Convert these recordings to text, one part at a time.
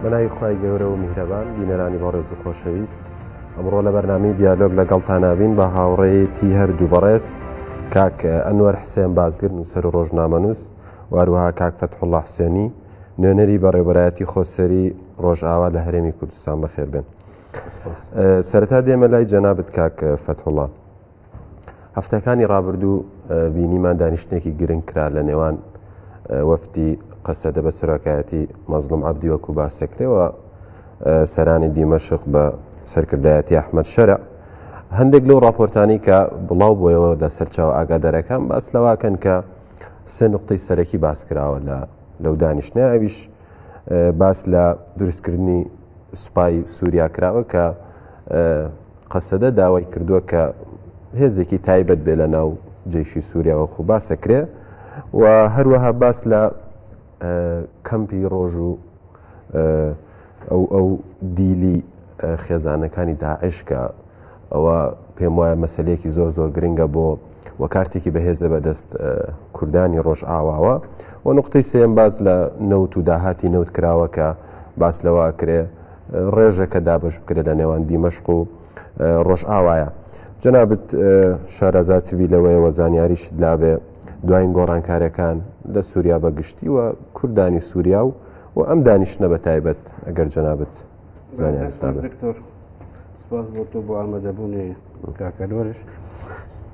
بەناوی خی گەورە و میهرەبان بینەرانی بەڕێز و خۆشەویست ئەمڕۆ لە بەرنامی دیالۆگ لەگەڵ تاناوین بە هاوڕێیەتی هەردوو بەڕێز کاک ئەنوەر حسێن بازگرن و سەر ڕۆژنامەنووس واروها کاک فەتحله حسێنی نوێنەری بەڕێبەرایەتی خۆسەری ڕۆژئاوا لە هەرێمی کوردستان بەخێربن سەرتا دێمە لای جەنابەت کاک فەتحڵە هەفتەکانی ڕابردوو بینیمان دانیشتنێکی گرنگ کرا لە نێوان وەفتی قەسەدە بە سەرۆکایەتی مەزلوم عبدی وەکو باسەکرێەوە سەرانی دیمەشق بە سەرکردایەتی ئەحمد شەرع هەندێک لەو راپۆرتانی کە بڵاو بۆیەوە لە سەرچاو ئاگادارەکان باس لەواکەن کە سێ نقطەی سەرەکی باس کراوە لە لەو دانیشتە ئەویش باس لە دروستکردنی سوپای سووریا کراوە کە قەسەدە داوای کردووە کە هێزێکی تایبەت بێ لە ناو جەیشی سووریا وەکو باسە کرێ و هەروەها باس لە کەمپی ڕۆژ و ئەو ئەو دیلی خێزانەکانی داعشکە ئەوە پێم وایە مەسلەیەکی زۆر زۆر گرنگە بۆ و کارتێکی بەهێزە بەدەست کوردانی ڕۆژ ئاواوە و نقطەی سێم باز لە نەوت و داهاتی نەوت کراوە کە باس لەوە کرێ ڕێژە کە دابش بکرێت لە نێوان دیمەشق و ڕۆژئاوایە جەنابت شارەزاتبی لەوەیەوە زانیاریش لابێ دوایین گۆڕانکارەکان لە سووریا بە گشتی و کوردانی سووریا و و ئەم دانیشتە بە تایبەت ئەگەر جەنابت زانیار دکتۆر سپاس بۆ تۆ بۆ ئامادەبوونێ کاکەلۆرش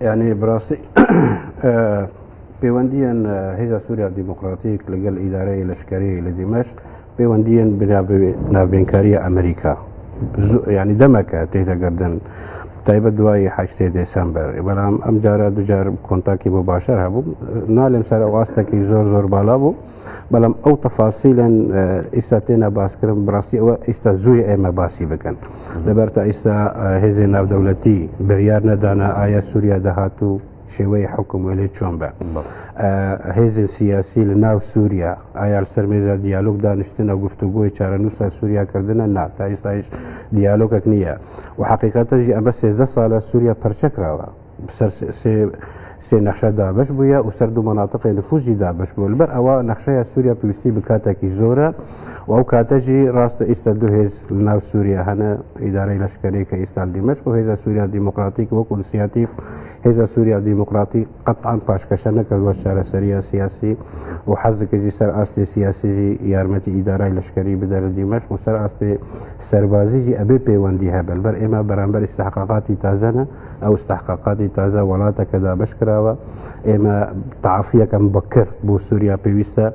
یعنی بڕاستی پەیوەندیان هێزا سووریا دیموکراتیک لەگەل ئیدارەی لەشکری لە دیمەش پەیوەندیان ناوێنکاریە ئەمریکا ینی دەمەکە تێدەگردن تایبە دوایی حشتێ دەسەمبەر بەڵام ئەم جارە دوجار کۆنتاکی بۆ باشەر هەبوو نالێم سەر ئەو ئاستەکی زۆر زۆر بالا بوو. بەڵام ئەو تەفاسیلەن ئیستا تێنا باسکرم بڕاستی ئەوە ئیستا زووی ئێمە باسی بکەن لەبەر تا ئیستا هێزی ناودەولەتی بریار نەدانا ئایا سووریا دەهات و شێوەی حکم وێلێ چۆن بە هێزی سیاسی لە ناو سووریا ئایار سەرمێزە دیالۆگ دانیشتنە گفتوگۆی چارەنووسە سووریا کردنە نا تا ئیستایش دیالۆگەک نییە و حقیقەتەژی ئەمە سێزدە ساڵە سووریا پەرچەکراوە سەر سێ نەخشە دابش بووە و سەر دوو مەناتقی نفوزی دابش بوو لەبەر ئەوە نەخشەیە سووریا پێویستی بکاتێکی زۆرە و ئەو کاتەژی ڕاستە ئیستا دوو هێز ناو سووریا هەنە ئیدارەی لەشکەری کە ئیستا دیمەش و هێزە سووریا دیموکراتیک وەک ئینسیاتیف هێزە سووریا دیموکراتی قەتان پاشکەشە نەکردوە چارەسەریە سیاسی و حەزکردی سەر ئاستی سیاسیزی یارمەتی ئیدارای لەشکەری بدەرە دیمەش و سەر ئاستی سەربازیجی ئەبێ پەیوەندی هەبەر بەر ئێمە بەرامبەر استحقاقاتی تازەنە ئەو استحقاقاتی تازە وڵاتەکە دابش کراوە ئێمە تعافیەکەم بەکر بۆ سووریا پێویستە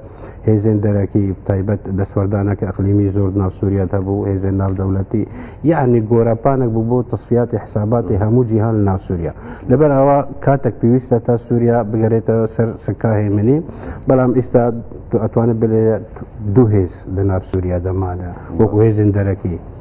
هێزێن دەرەکی تایبەت دەسوەردانەکە ئەقلیمی زۆر ناو سووریات هەبوو هێزێن ناو دەولەتی یعنی گۆراپانێک بوو بۆ تصفیاتی حساباتی هەموو جیهان لە ناو سووریا لەبەر ئەوە کاتێک پێویستە تا سووریا بگەرێتەوە سەر سکاهێ منی بەڵام ئیستا ئەتوانێت بلێت دوو هێز لە ناو سووریا دەمانە وەکو هێزن دەرەکی.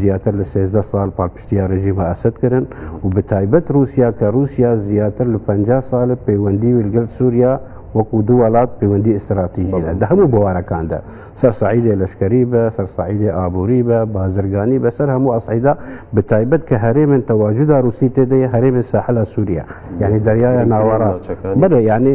زیاتر لە سێزدە ساڵ پاڵپشتیار رژیمە ئەسەد کرن و بە تایبەت رووسیا کە رووسیا زیاتر لە پەنجا ساڵە پەیوەندی ویلگەل سووریا وەکو دوو وڵات پەیوەندی ئستراتیژی لە دە هەموو بوارەکاندا سەر سعیدێ لەشکری بە سەر سعیدێ ئابووری بە بازرگانی بەسەر هەموو ئەسعیدا بە تایبەت کە هەرێمن تەواجودا رووسی تێدەی هەرێمە ساحلە سووریا یعنی دەریایە ناوەڕاست بەە یعنی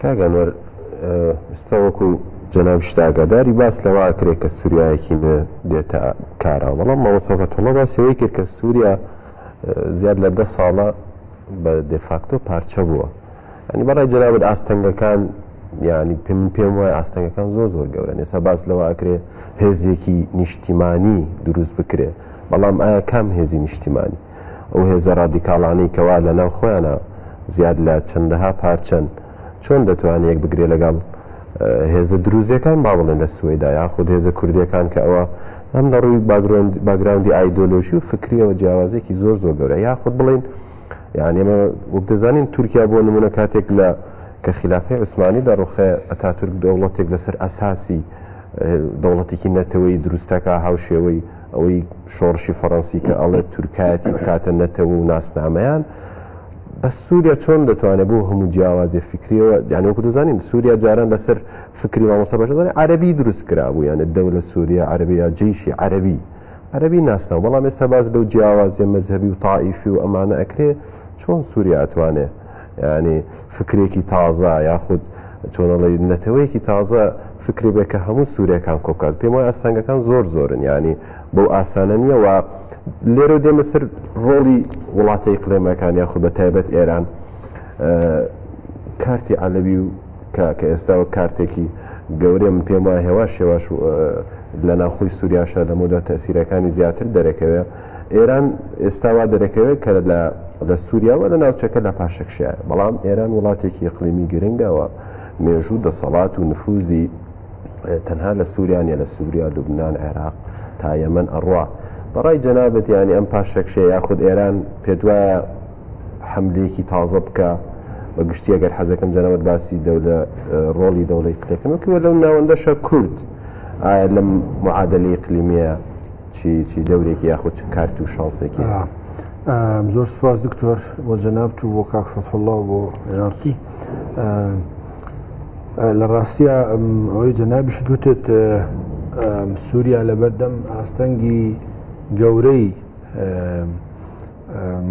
کاک ئەنوەر ئیستا وەکو جەناب شت ئاگاداری باس لەوە ئەکرێ کە سوریایەکی نوێ دێتە کارەوە بەڵام مامۆستا فەتحوڵڵا باسی ئەوەی کرد کە سوریا زیاد لە دە ساڵە بە دێفاکتۆ پارچە بووە ینی بەڕای جەنابت ئاستەنگەکان یعنی پێم پێم وای ئاستەنگەکان زۆر زۆر گەورەن ئێستا باس لەوە ئەکرێ هێزێکی نیشتیمانی دروست بکرێ بەڵام ئایا کام هێزی نیشتیمانی ئەو هێزە ڕادیکاڵانەی کەوا لەناو خۆیانا زیاد لە چەندەها پارچەن چۆن دەتوانێ یەک بگرێ لەگەڵ هێزە دروزیەکان با بڵێن لە سوەیدا یاخود هێزە کوردیەکان کە ئەوە هەم لە ڕووی باگرۆند باگراوندی ئایدۆلۆژی و فکریەوە جیاوازێکی زۆر زۆر گەورە یاخود بڵین یعنی ئێمە وەک دەزانین تورکیا بۆ نمونە کاتێک لە کە خلافی عوسمانی لە ڕوخێ ئەتا تورک دەوڵەتێک لەسەر ئەساسی دەوڵەتێکی نەتەوەی دروستەکە هاوشێوەی ئەوەی شۆڕشی فەڕەنسی کە ئەڵێت تورکایەتی بکاتە نەتەوە و ناسنامەیان، بەس سوریا چۆن دەتوانێت بەو هەموو جیاوازیە فیکریەوە یانی وەکو دەزانین سوریا جاران لەسەر فکری مامۆستا بەشار دەڵێ عەرەبی دروست کرابوو یانێ دەولە سوریا عەرەبی یا جەیشی عەرەبی عەرەبی ناسناو بەڵام ئێستا باس لەو جیاوازیە مەزهەبی و تائیفی و ئەمانە ئەکرێ چۆن سوریا ئەتوانێ یانی فکرێکی تازە یاخود چۆنەڵی نەتەوەیەکی تازە فکری بێ کە هەموو سوورەکان کۆکات پێم وای ئاستانگەکان زۆر زۆرن ینی بەو ئاسانە نییە و لێرە دێمە سەر ڕۆڵی وڵاتە ئیقلێمەکان یاخود بە تایبەت ئێران کارتی عەلەوی و کە کە ئێستا و کارتێکی گەورەیە من پێم وای هێواش هێواش لە ناخۆی سووریاشە لەمەدا تەسیرەکانی زیاتر دەرەکەوێ ئێران ئێستا وا دەرەکەوێت کە لە لە سووریا و لە ناوچەکە لە پاشەکشێ، بەڵام ئێران وڵاتێکی ئیقلیمی گرنگە و مێژوو و دەسەڵات و نفووزی تەنها لە سووریا نیە، لە سووریا، لوبنان، عێراق تا یەمەن ئەڕوا. بە ڕای جەنابت یانی ئەم پاشەکشێ یاخود ئێران پێت وایە حەملەیەکی تازە بکا؟ بە گشتی ئەگەر حەز دەکەم جەنابت باسی دەولە ڕۆڵی دەوڵە ئیقلیقیمەکەی و لەو ناوەندەشە کورد ئایا لەم معادلە ئیقلیمییە چی چی دەورێکی یاخود چ کارت و شانسێکی زۆر سپاس دکتۆر بۆ جەنابت و بۆ کاک فەتحڵڵا بۆ یارتی لە ڕاستە ئەوەی جەنابیش دوتت سووریا لەبەردەم ئاستەنگی گەورەی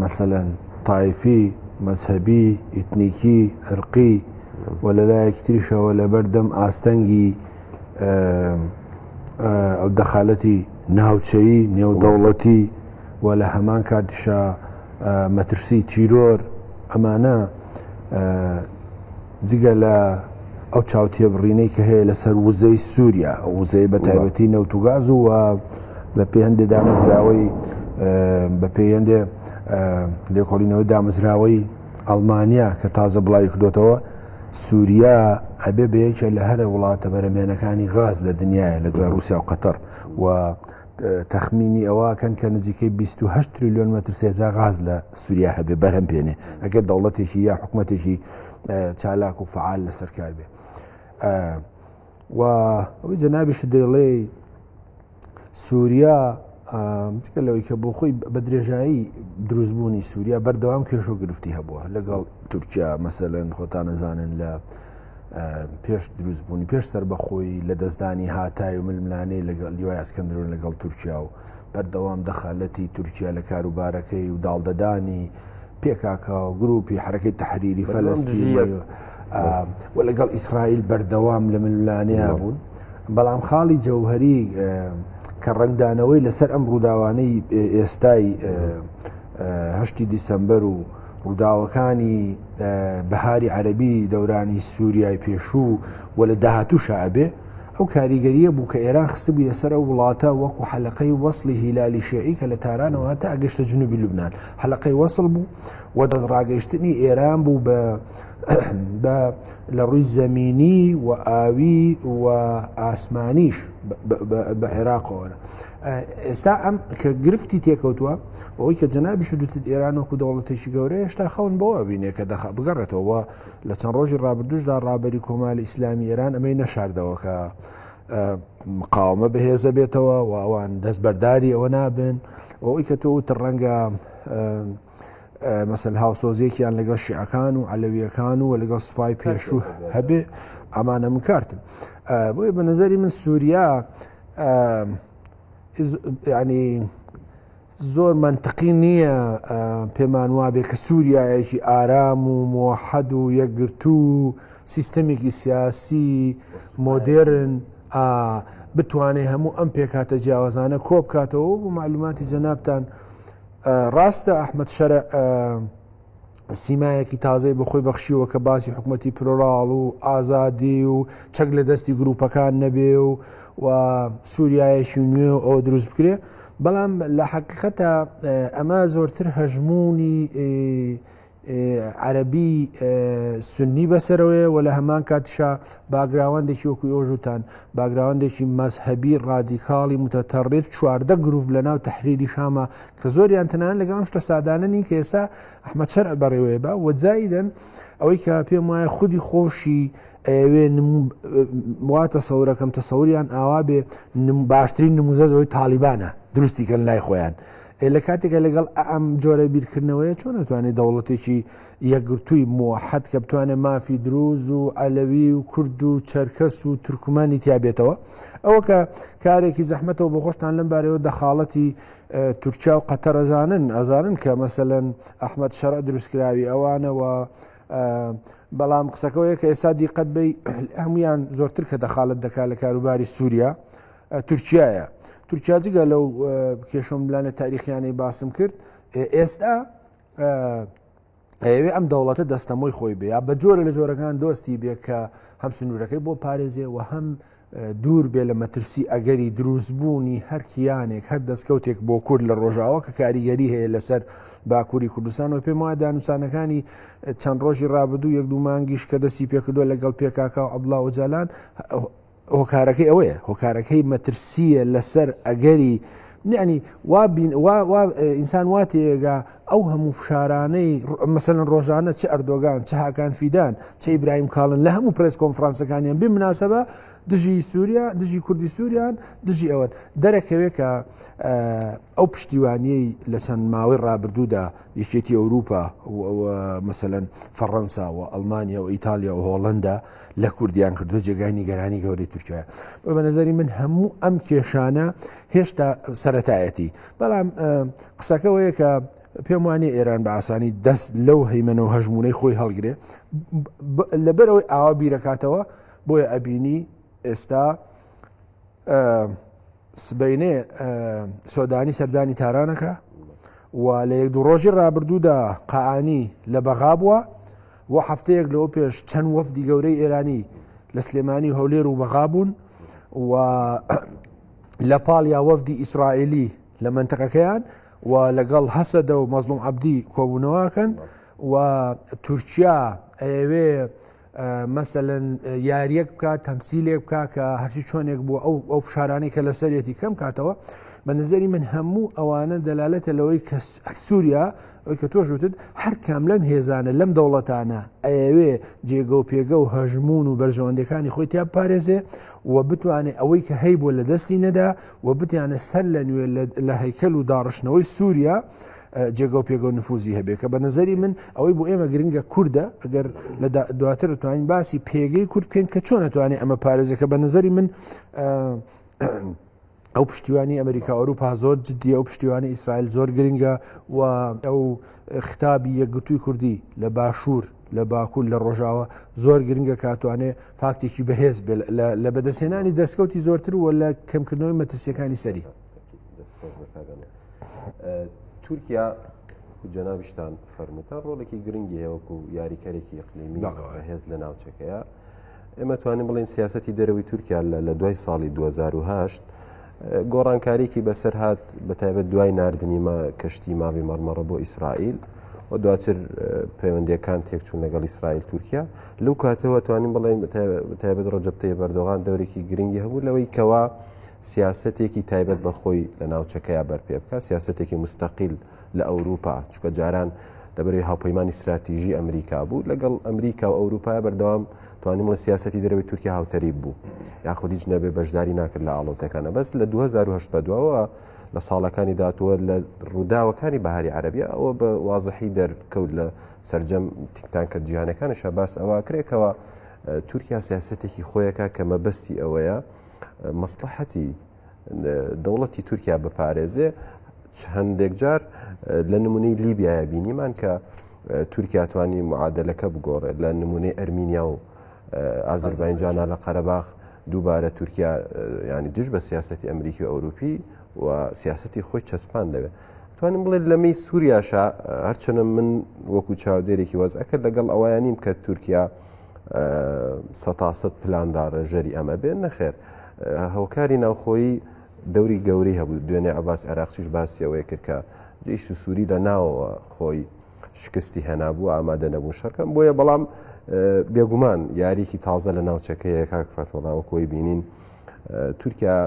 مەسەەن تایفی مەذهبی ئیتنیکی هەرقی و لەلایەکی تریشەوە لەبەردەم ئاستەنگی ئەو دەخالەتی ناوچەیی نێودەوڵەتی و لە هەمان کاتیشە مەترسی تیرۆر ئەمانە جگە لە ئەو چاوتێ بڕینەی کە هەیە لەسەر وزەی سووریا وزەی بە تایبەتی نەوتوگاز و بە پێ هەندێ دامەزراوەی بە پێ هەندێ لێکۆڵینەوەی دامەزراوەی ئەڵمانیا کە تازە بڵاوی کردوێتەوە سوریا ئەبێ بە یەکێ لە هەرە وڵاتە بەرەمێنەکانی غاز لە دنیاە لە دوای رووسیا و قەتەر و تەخمینی ئەوەکەن کە نزیکەی 28 تریلیۆن مەتر سێجا غاز لە سووریا هەبێ بەرهەم بێنێ ئەگەر دەوڵەتێکی یا حکوومەتێکی چالاک و فعال لەسەر کار بێ و ئەوەی جەنابیش دەیڵێ سووریا جگە لەوەی کە بۆ خۆی بە درێژایی دروستبوونی سووریا بەردەوام کێش و گرفتی هەبووە لەگەڵ تورکیا مەسەلەن خۆتان نەزانن لە پێش دروستبوونی پێش سەر بەخۆی لە دەستدانی هاتای و ململانەی لەگەڵ لیوای ئەسکەندرون لەگەڵ تورکیا و بەردەوام دەخالەتی تورکیا لە کاروبارەکەی و داڵدەدانی پێکاکە و گروپی حرەکەی تحریری فەلستی و لەگەڵ ئیسرائیل بەردەوام لە ململانێیا بوون بەڵام خاڵی جەوهری کە ڕنگدانەوەی لەسەر ئەم ڕووداوانەی ئێستای هەشتی دیسمبەر و ڕووداوەکانی بەهاری عەربی دەورانی سووریای پێشوو و لە داهاتوو شعبێ ئەو کاریگەریە بوو کە ئێران خستە بوو لەسەر ئەو وڵاتە وەکو حەلقەی وەصلی هیلالی شعی کە لە تارانەوە تا ئەگەشتە جنوبی لوبناان حەلقەی وەصل بوو و دەست ڕاگەیشتنی ئێران بوو بە بە لە ڕووی زەمینی و ئاوی و ئاسمانیش بە عێراقەوە ئێستا ئەم کە گرفتی تێکەوتووە بەوەی کە جەنابیش دوتت ئێران وەکو دەوڵەتێکی گەورە هێشتا خەون بەوە بینێ کە دەخ بگەڕێتەوە لە چەند ڕۆژی ڕابردوشدا ڕابەری کۆماری ئیسلامی ئێران ئەمەی نەشاردەوەکە مقاومە بەهێزە بێتەوە و ئەوان دەست بەرداری ئەوە نابن ئەوەی کە تۆ وتە ڕەنگە مەسەن هاوسۆزیەکیان لەگەڵ شیعەکان و عەلەویەکان و لەگەڵ سوپای پێشوو هەبێ ئەمانە من کارتن بۆیە بە نظری من سووریا ینی زۆر منطقی نییە پێمان وابێ کە سووریایەکی ئارام و مۆحەد و یەکگرتو و سیستەمێکی سیاسی مۆدێرن بتوانێت هەموو ئەم پێکاتە جیاوازانە کۆ بکاتەوە بۆ معلوماتی جەنابان ڕاستە ئەحمەد شەرع سیمایەکی تازەی بە خۆی بەخشیوە کە باسی حکوومەتی پلۆراڵ و ئازادی و چەک لە دەستی گروپەکان نەبێ و و سووریایەکی نوێ و ئەو دروست بکرێ بەڵام لە حەقیقەتە ئەمە زۆرتر هەژمونی عەرەبی سوننی بەسەرەوەیە و لە هەمان کاتیشا باگراوەندێکی وەکو ئێوەش وتان باگراوەندێکی مەزهەبی ڕادیکاڵی متەتەڕیف چواردە گروپ لەناو تەحریری شامە کە زۆریان تەنانەت لەگەڵ ئەم شتە سادانە نین کە ئێستا ئەحمەد شەرع بەڕێوەیە بە و جایدەن ئەوەی کە پێم وایە خودی خۆشی ئەوێ وا تەسەورەکەم تەسەوریان ئاوا بێ باشترین نموزەزەوەی تاالبانە دروستی کەن لای خۆیان ئێ لە کاتێکە لەگەڵ ئەم جۆرە بیرکردنەوەیە چۆن نتوانێت دەوڵەتێکی یەکگرتووی موحد کە بتوانێت مافی دروز و ئەلەوی و کورد و چەرکەس و تورکمانی تیابێتەوە ئەوە کە کارێکی زەحمەتەوە بۆ خۆشتان لەم بارەوە دەخاڵەتی تورکیا و قەتەرەزانن ئەزانن کە مەسەەن ئەحمد شەرع دروستکراوی ئەوانەوە بەڵام قسەکەەوەیە کە ئێستا دیقەت بی هەمویان زۆرتر کە دەخالت دەکات لە کاروباری سووریا تورکیایە. تورکیا جگە لەو کێشە و ملانە تاریخییانەی باسم کرد، ئێستا ئەیەوێ ئەم دەوڵەتە دەستەمۆی خۆی بێ یا بە جۆرە لە جۆرەکان دۆستی بێ کە هەم سنوورەکەی بۆ پارێزێ و هەم دوور بێ لە مەترسی ئەگەری دروستبوونی هەر کیانێک هەر دەستکەوتێک بۆ کورد لە ڕۆژاوە کە کاریگەری هەیە لەسەر باکووری کوردستان و پێم وایە دانوسانەکانی چەند ڕۆژی ڕابردوو یەک دوو مانگیش کە دەستی پێکردووە لەگەڵ پێکاکا و عەبدوڵا ئۆجالان هۆکارەکەی ئەوەیە هۆکارەکەی مەترسیە لەسەر ئەگەری یعنی وا ئینسان وا تێگا ئەو هەموو فشارانەی مەسەن ڕۆژانە چ ئەردۆگان چ هاکان فیدان چ ئیبراهیم کاڵن لە هەموو پرس کۆنفرانسەکانیان بێ مناسبە دژی سووریا دژی کوردی سووریان دژی ئەوەن دەرەکەوێت کە ئەو پشتیوانیی لە چەند ماوەی ڕابردوودا یەکێتی ئەوروپا مەسەن فەڕەنسا و ئەلمانیا و ئیتالیا و هۆڵندا لە کوردیان کردو جێگای نیگەرانی گەورەی تورکیاە بە بەنەزەری من هەموو ئەم کێشانە هێشتا سەتایەتی بەڵام قسەکەەوەیە کە پێم وانە ئێران بە ئاسانی دەست لەو هەیمەە و هەژمونەی خۆی هەڵگرێ لەبەرەوەی ئاوا بیرەکاتەوە بۆیە ئەبینی ئێستا سبەینێ سۆدانی سەردانی تارانەکە و لە یەک دوو ڕۆژی ڕابردوودا قانی لە بەغا بووە و هەفتەیەک لەوە پێش چەند وەفدی گەورەی ئێرانی لە سلێمانی هەولێر و بەغا بوون و لە پاڵ یا وەفدی ئیسرائیلی لە منتەقەکەیان و لەگەڵ هەسەدە و مەزلوم عبدی کۆبوونەوەکەن و تورکیا ئەوێ مەسەلەن یاریەک بکە تەمسیلێک بکە کە هەرچی چۆنێک بوو ئەو ئەو فشارانەی کە لە سەرەتی کەم کاتەوە بە نظری من هەموو ئەوانە دەلالەتە لەوەی کە سووریا ئەوی کە تۆش وتت هەر کام لەم هێزانە لەم دەوڵەتانە ئەوێ جێگە و پێگە و هەژمون و بەرژەوەندەکانی خۆی تیا پارێزێ و بتوانێت ئەوەی کە هەی بۆ لە دەستی نەدا و بتیانە سەر لە نوێ لە هەیکەل و داڕشتنەوەی سووریا جێگە و پێگە و نفوزی هەبێ کە بە نەزەری من ئەوەی بۆ ئێمە گرنگە کوردە ئەگەر لە دواتر توانین باسی پێگەی کورد بکەین کە چۆن نتوانێت ئەمە پارێزە کە بە نەزەری من ئەو پشتیوانی ئەمریکا ئەوروپا زۆر جددی ئەو پشتیوانی ئیسرائیل زۆر گرنگە و ئەو ختابی یەکگرتووی کوردی لە باشوور لە باکوول لە ڕۆژاوە زۆر گرنگە کاتوانێ فاکتێکی بەهێز لە بەدەسێنانی دەستکەوتی زۆرتر و لە کەمکردنەوەی مەترسیەکانی سەری. تورکیا جەنابشتان فەرموتە ڕۆڵێکی گرنگی هەیەوەکو و یاریکەرێکی قلیمی هێز لە ناوچەکەیە ئێمە توانین بڵین سیاستی دەرەوەی تورکیا لە دوای ساڵی 2010 گۆڕانکاریکی بەسەر هاات بە تایبەت دوای نردنی مە کەشتی ماوی مەرمەڕە بۆ ئیسرائیل و دواتر پەیوەندەکان تێکچوون لەگەڵ ئیسرائیل تورکیا لەو کاتەوە توانین بڵێن تایبەت ڕۆژەبتەی بەردۆغان دەورێکی گرنگی هەبوو لەوەی کەوا سیاسەتێکی تایبەت بە خۆی لە ناوچەکەیا بەر پێ بکا، سیاسەتێکی موستەقیل لە ئەوروپا، چونکە جاران لە بەرەی هاوپەیمانی ستراتیژی ئەمریکا بوو، لە گەڵ ئەمریکا و ئەوروپا بەردەوام توانیم بڵێم سیاسەتی دەرەوەی تورکیا هاوتەریب بوو، یاخود هیچ نەبێ بەشداری ناکرد لە ئاڵۆزیەکانا، بەس لە دوو هەزار و هەشت بە دواوە لە ساڵەکانی داهاتوو و لە ڕووداوەکانی بەهاری عەرەبیا ئەوە بە وازحی دەر کەوت لە سەرجەم تیکتانکە جیهانەکانیشا باس ئەوە ئەکرێ کەوا تورکیا سیاسەتێکی خۆیەکا کە مەبەستی ئەوەیە مەسڵەحەتی دەوڵەتی تورکیا بپارێزێ هەندێک جار لە نمونەی لیبیایە بینیمان کە تورکیا توانی معادلەکە بگۆڕێت لە نمونەی ئەرمینیا و ئازربایجانە لە قەرەباخ دووبارە تورکیا ینی دژ بە سیاستی ئەمریکی و ئەوروپی و سیاستی خۆی چەسپان دەوێت توانم بڵێت لەمەی سووریاشە هەرچەنە من وەکو چاودێرێکی وەزعەکە لەگەڵ ئەویانیم کە تورکیا سەتا سەت پلان دارێژەری ئەمە بێت نەخێر هۆکاری ناوخۆیی دەوری گەوری هەبوو دوێنێ عباس عێراقچیش باسیەوەی کرد کە جیش و سووری لە ناوەوە خۆی شکستی هێنابوو ئامادە نەبوو شەرکەم بۆیە بەڵام بێگومان یاریکی تازە لە ناوچەکەیە کاک فەتوەڵاوە کۆی بینین تورکیا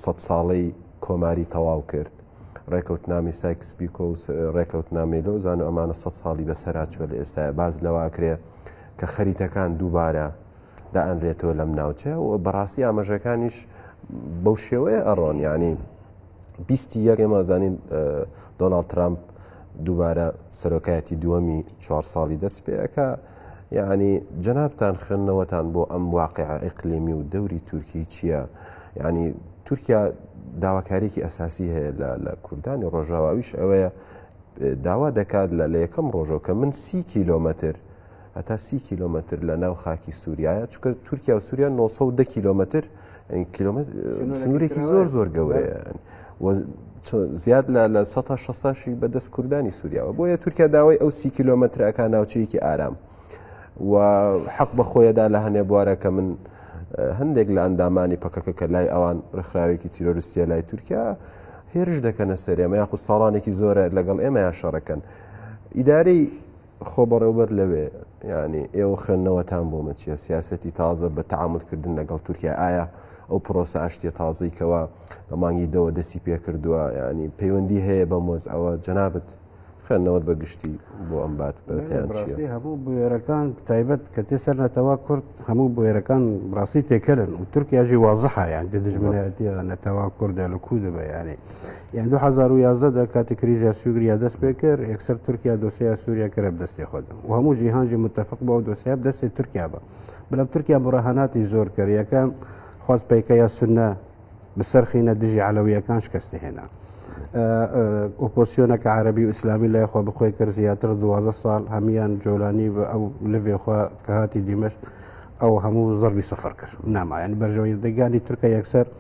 سە ساڵەی کۆماری تەواو کرد ڕێکەوت نامی سایکس بیکۆ ڕێکەوت نامێلۆ زانو ئەمانە سە ساڵی بەسەرا چوە لە ئێستا باز لەواکرێ کە خەریتەکان دووبارە دائەنرێتەوە لەم ناوچەیە و بەڕاستی ئاماژەکانیش بەو شێوەیە ئەڕۆن یعنی بیستی یەک ئێمە زانین دۆناڵد ترامپ دووبارە سەرۆکایەتی دووەمی چوار ساڵی دەست پێەکە یعنی جەنابتان خوێندنەوەتان بۆ ئەم واقع ئەقلیمی و دەوری تورکی چییە یعنی تورکیا داواکارێکی ئەساسی هەیە لە کوردانی ڕۆژاواویش ئەوەیە داوا دەکات لە لە یەکەم ڕۆژەوە کە من سی کیلۆمەتر هەتا سی کیلۆمەتر لە ناو خاکی سووریایە چکە تورکیا و سووریا 900 کیلۆمەتر کیلومتر سنوورێکی زۆر زۆر گەورەیە زیاد لە لە 16شی بەدەست کوردانی سووریاوە بۆیە تورکیا داوای ئەو سی کیلۆمەترەکە ناوچەیەکی ئارام و حەق بە خۆیەدا لە هەنێ بوارە کە من هەندێک لە ئەندامانی پەکەکە کە لای ئەوان ڕێکخراوێکی تیرۆریستە لای تورکیا هێرش دەکەنە سەرێمە یاخود ساڵانێکی زۆرە لەگەڵ ئێمە یا شەڕەکەن ئیدارەی خۆ بەڕێوبەر لەوێ یانی ئێوە خوێندنەوەتان بۆ مە چیە؟ سیاسەتی تازە بە تەعامول کردن لەگەڵ تورکیا ئایا ئەو پرۆسە ئاشتیە تازەی کەوا لە مانگی دەوە دەستی پێ کردووە یانی پەیوەندی هەیە بەم وەزعەوە جەنابت خوێندنەوەت بە گشتی بۆ ئەم بات بەرەتیان چیە؟ بەڕاستی هەموو بوێرەکان تایبەت کە تێ سەر نەتەوە کورد هەموو بوێرەکان بڕاستی تێکەلن و تورکیاژی وازحە یان دژمنایەتیە نەتەوە کوردە لە کوردە بە یانی. یان دوو هەزار و یازدە دا کاتێ کریزیا سوگریا دەست پێ کرد یەکسەر تورکیا دۆسێیا سوریا کرا بدەستێ خۆد و هەموو جیهان جی متفق بوو ئەو دۆسێیا بدەستێ تورکیا بە بەلام تورکیا مراهەناتی زۆر کرد یەکەم خواست پەیکە یا سنە بسەرخینە دژی عەلەویەکان شکەستی هێنا ئۆپۆسیۆنەکە عربی و ئیسلامی لای خۆ بخۆی کرد زیاتر دوازە ساڵ هەمان جۆلانی بە ئەو لەێخوا کە هاتی دیمەشت ئەو هەموو زەربی سەفەر کرد نامایان بەرژەوەی دەگانی تورکە یەکسەر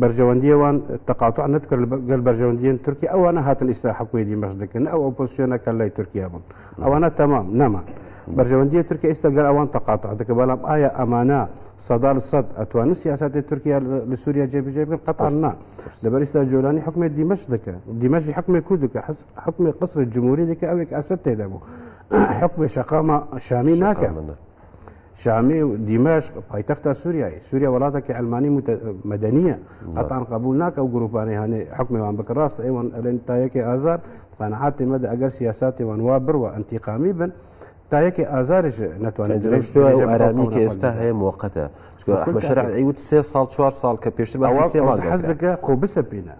بەرژەوەندیە وان تەقاتوع نەتکرد گەل بەرژەوەندیەن تورکیا ئەوانە هاتن ئیستا حکومی دیمەش دکن ئەو ئۆپۆسیۆنە کە لای تورکیا بوون ئەوانە تەمام نەمان بەرژەوەندیە تورکیا ئیستا گەر ئەوان تەقاتوع دەکە بەڵام ئایا ئەمانە سەدال سەد ئەتوان سیاستی تورکیا لە سووریا جێبجێ بکەن قەتان نا لەبەر ئیستا جۆرانی حکومی دیمەش دکە دیمەشی حکومی کو دکە حس حکومی قسر جمهوری دکە ئەوێک ئەسد تێدا بوو حکومی شەقامە شامی ناکە شامی و دیمەشق پایتەختە سووریایی سووریا وڵاتێکی ئەلمانی مەدەنیە قەتان قبول ناکە و گروپانەی هەنێ حکمێوان بکە ڕاست ئەیوان ئەلێن تایەکی ئازار قەنعاتی مەدە ئەگەر سیاساتیوان وا بڕوە ئەنتیقامی بن تایەکی ئازارش ناتوانێت ئارامی کە ئێستا هەیە موقتە شەرعی وت سێ ساڵ چوار ساڵ کە پێشتر بەسێ ماڵ حەز دەکە خۆ بسەپینە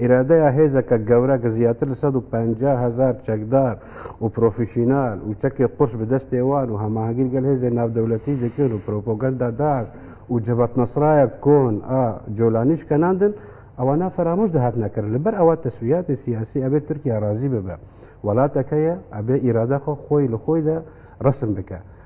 ئیرادەیە هێزەکە گەورە کە زیاتر لە سەد و پەنجا هەزار چەکدار و پرۆفیشینال و چەکێ قورس بە دەستێ وان و هەماهەنگی لەگەل هێزێ ناودەولەتی دەکرێن و پروپوگەندا داش و جەبەت نەسرایە کۆن ئە جۆلانیش کە ناندن ئەوانە فەرامۆش دەهات نەکرن لە بەر ئەوە تەسویاتی سیاسی ئەبێ تورکیا رازی ببە وەلاتەکەیە ئەبێ ئیرادە خۆ خۆی لە خۆیدا رەسم بکە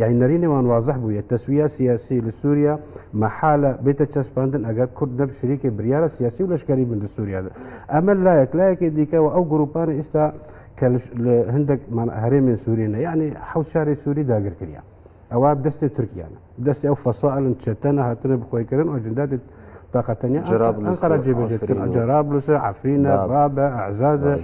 یانی نەری نێوان وازح بوو یە تەسویە سیاسی لە سوریا مەحالە بیتە چەسپاندن ئەگەر کورد نەب شریکی بریارە سیاسی و لەشکەری بن لە سوریا دا ئەمە لایەک لایەکی دیکە و ئەو گروپانە ئیستا کە لە هندەک مانە هەرێمێن سوری نە یانی حەوت شاری سوری داگر کریا ئەوە دەستی تورکیانە دەستی ئەو فەسائلن چەتەنە هاتنە بخۆی کردن و جندادت تاقەتەنیا ئەنقەرە جێبەجێت کرد جەرابلوسە عەفرینە بابە ئەعزازە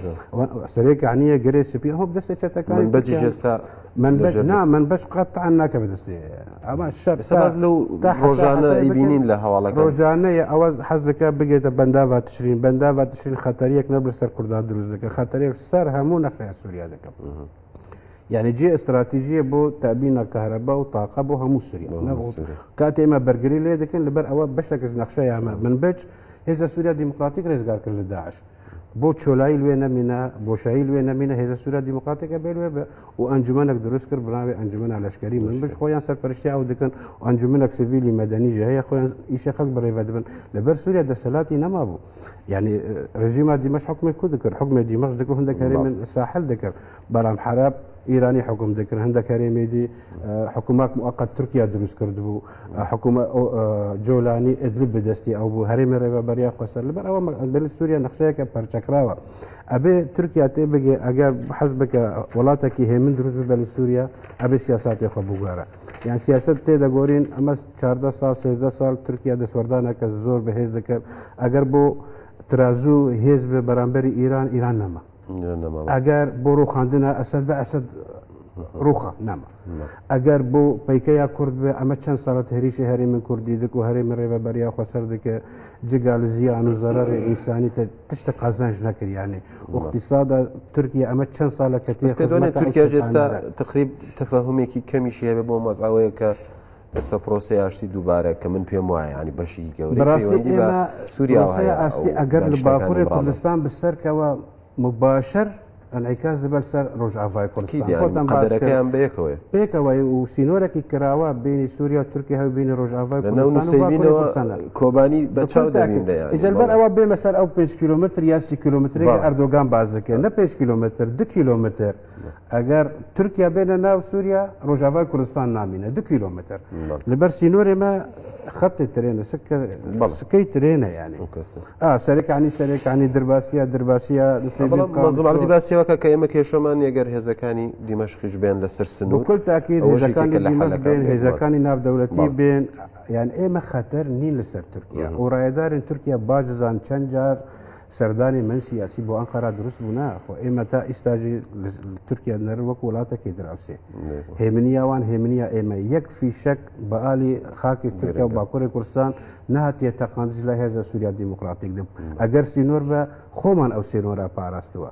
سەرێ کانیە گەرێ سپی ئەوە دەستە چەتەکان بەجی ئێستا من بەش قەت تان ناکە بەدەستێ ئەمە شەرسەباز لەو ڕۆژانە ئەیبینین لە هەواڵە ڕۆژانەیە ئەوە حەزەکە بگێتە بەنداوا تشرین بەنداوا تشرین خەتەریەک نەبر سەر کوردان دروستەکە خەتەرێک سەر هەموو نەخرای سووریا دەکەم. یعنی جێ استراتیژیە بۆ تابینە کەهرەبا و تاقە بۆ هەموو سووریا کاتێ ئمە بەرگری لێ دەکەن لەبەر ئەوە بەشەکەش نەخشە یامە من بچ هێزە سووریا دیموکراتیک ڕێزگارکرد لە داعش. بۆ چۆلایی لوێ نەمینە بۆشایی لوێ نەمینە هێزە سوورە دیموکراتێکە بێ لوێ و ئەنجومەنەك دروست کرد بناوێ ئەنجومەنە لەشکری من بش خۆیان سەرپەرشتی ئەو دکن و ئەنجومەنەك سڤیلی مەدەنی ژە هەیە خۆیان ئیشە خەک بڕێڤە دبن لەبەر سووریا دەسەلاتی نەمابوو یعنی ڕژیما دیمەش حکومی کو دکرد حکومی دیمەش دکرد هەندێک هەرێ من ساحل دکرد بەرام حراب ئیرانی حکوم دکرد هەندێک هەرێمێدی حکومات موقت تورکیا دروست کرد بوو حکومە ئۆ جۆلانی ئیدلب بە دەستی ئەو بوو، هەرێمی رێبەبەر یان خوەسەر. لەبەر ئەوە مە دەلی سووریا نەخشەیەکە پەرچەکراوە. ئەبێ تورکیا تێ بگێ ئەگە حەز بکە وڵاتەکی هێمن دروست ببێ لە سووریا، ئەبێ سیاساتی خۆ بگۆرە. یان سیاسەت تێ دەگۆرین ئەمە چاردە ساڵ، سێزدە ساڵ تورکیا دەسوەردانەکە زۆر بە هێز دەکەێ. ئەگەر بۆ ترازوو هێز بێ بەرامبەری ئیران، ئیران نەما. ئەگەر بۆ ڕووخاندنە ئەسەد بە ئەسەد ڕووخا نەما ئەگەر بۆ پەیکەیا کورد بێ ئەمە چەند سەرەت هەریشی هەرێ من کوردی دک و هەرێ من ڕێبە بەریا خۆسەر دکە جگا لە زیان و زەرەر ئینسانی تە تشتە قازانج نەکریانێ وقتیسادا تورکیا ئەمە چەند ساڵە کە تێ پێدوێنێ تورکیا جێستا تقریب تەفاهمێکی کەمیشی هەبێ بۆ مەزعەوەیە کە ئێستا پرۆسەی ئاشتی دووبارە کە من پێم وایە یانی بەشێکی گەورەی پەیوەندی بە سوریاوە هەیە ئەو دانیشتنەکانی مراڵ دەکەن. ئەگەر لە باکوری کوردستان بسەر کەوە مباشر انعکاس دەبەر سەر رۆژئاڤای کوردستان خۆتان باس کرد. قەدەرەکەیان بەیەکەوەیە. بەیەکەوەیە و سینۆرەکی کراوە بەینی سوریا و تورکیا هەوی بەینی رۆژئاڤای کوردستان و باکوری کوردستان. لەنەو نوسەیبینەوە کۆبانی بە چاو دەبینرێ یانی. ئیجا لەبەر ئەوە بێمە سەر ئەو پێنج کیلۆمەتر یا سی کیلۆمەترەی کە ئەردۆگان باس دەکرد. نە پێنج کیلۆمەتر دو کیلۆمەتر. ئەگەر تورکیا بێنە ناو سووریا ڕۆژاوای کوردستان نامینە دو کیلومتر لەبەر سینۆری مە خەتی ترێنە سکەی ترێنە یانی سەرەکانی سەرەکانی درباسیە درباسیە زڵاتی باسیەوەکە کە ئێمە کێشەمان یەگەر هێزەکانی دیمەشقیش بێن لەسەر سنوور کل تاکی هێزەکانی ناو دەولەتی بێن یان ئێمە خەتەر نین لەسەر تورکیا و ڕایدارن تورکیا باززان چەند جار سەردانی من سیاسی بۆ ئەنقەرا دروست بوو نا خۆ ئێمە تا ئیستاژی تورکیا نەر وەک وڵاتەکەی دراوسێ هێمنیاوان هێمنیا ئێمە یەک فیشەک بەعالی خاکی تورکیا و باکووری کوردستان نهاتیە تەقاندش لە هێزە سووریا دیموکراتیک دەب ئەگەر سینۆر بە خۆمان ئەو سێنۆرا پاراستووە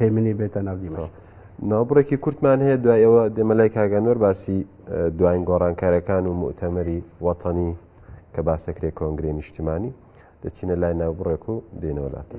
هێمنی بێتە ناو دیمەوە ناوبڕێکی کورتمان هەیە دوای ئەوە دێمە لای کاگەنۆر باسی دواین گۆڕانکارەکان و مؤتەمەری وەتەنی کە باسەکرێ کۆنگری نیشتیمانی دەچینە لای ناوبڕێک و دێنەوەلاتە.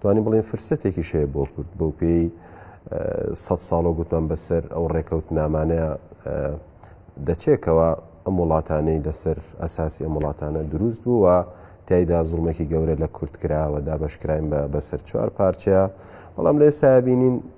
توانین بڵێین فرسەتێکیش هەیە بۆ کورد بەو پێی سەد ساڵە گوتمان بەسەر ئەو ڕێکەوت نامانەیە دەچێکەوە ئەم وڵاتانەی لەسەر ئەساسی ئەم وڵاتانە دروست بوو و تایدا زڵمێکی گەورە لە کورد کراوە دابشکراین بە بەسەر چوار پارچەیە بەڵام لە ئێستا بینین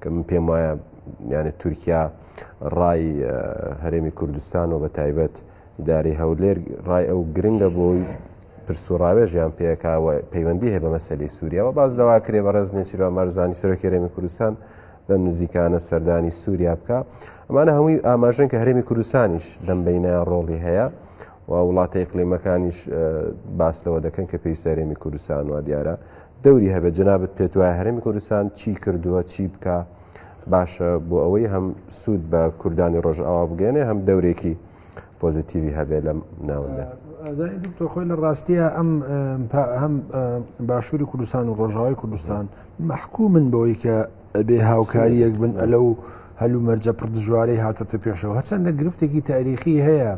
کە من پێم وایە یانە تورکیا ڕای هەرێمی کوردستان و بە تایبەت داری هەولێر ڕای ئەو گرنگە بۆی پرسوڕاوێژیان پێکاوە پەیوەندی هەیە بە مەسلی سووریاەوە باز لەوا کرێ بە ڕێز نێچیرا مەرزانی سەرۆکی هەرێمی کوردستان بەم نزیکانە سەردانی سووریا بکە ئەمانە هەمووی ئاماژن کە هەرێمی کوردستانیش لەم بینە ڕۆڵی هەیە و وڵاتە یقلیمەکانیش باس لەوە دەکەن کە پێی سەرێمی کوردستان و دیارە دەوری هەبێت جەنابت پێت وایە هەرێمی کوردستان چی کردووە چی بکە باشە بۆ ئەوەی هەم سوود بە کوردانی ڕۆژئاوا بگەێنێ هەم دەورێکی پۆزیتیوی هەبێ لەم ناوەندە دکتۆ خۆی لە ڕاستیە ئەم هەم باشووری کوردستان و ڕۆژاوای کوردستان محکوو من بۆی کە ئەبێ هاوکاریەک بن ئەلەو هەلو مەرجە پڕ دژوارەی هاتۆتە پێشەوە هەرچەندە گرفتێکی تاریخی هەیە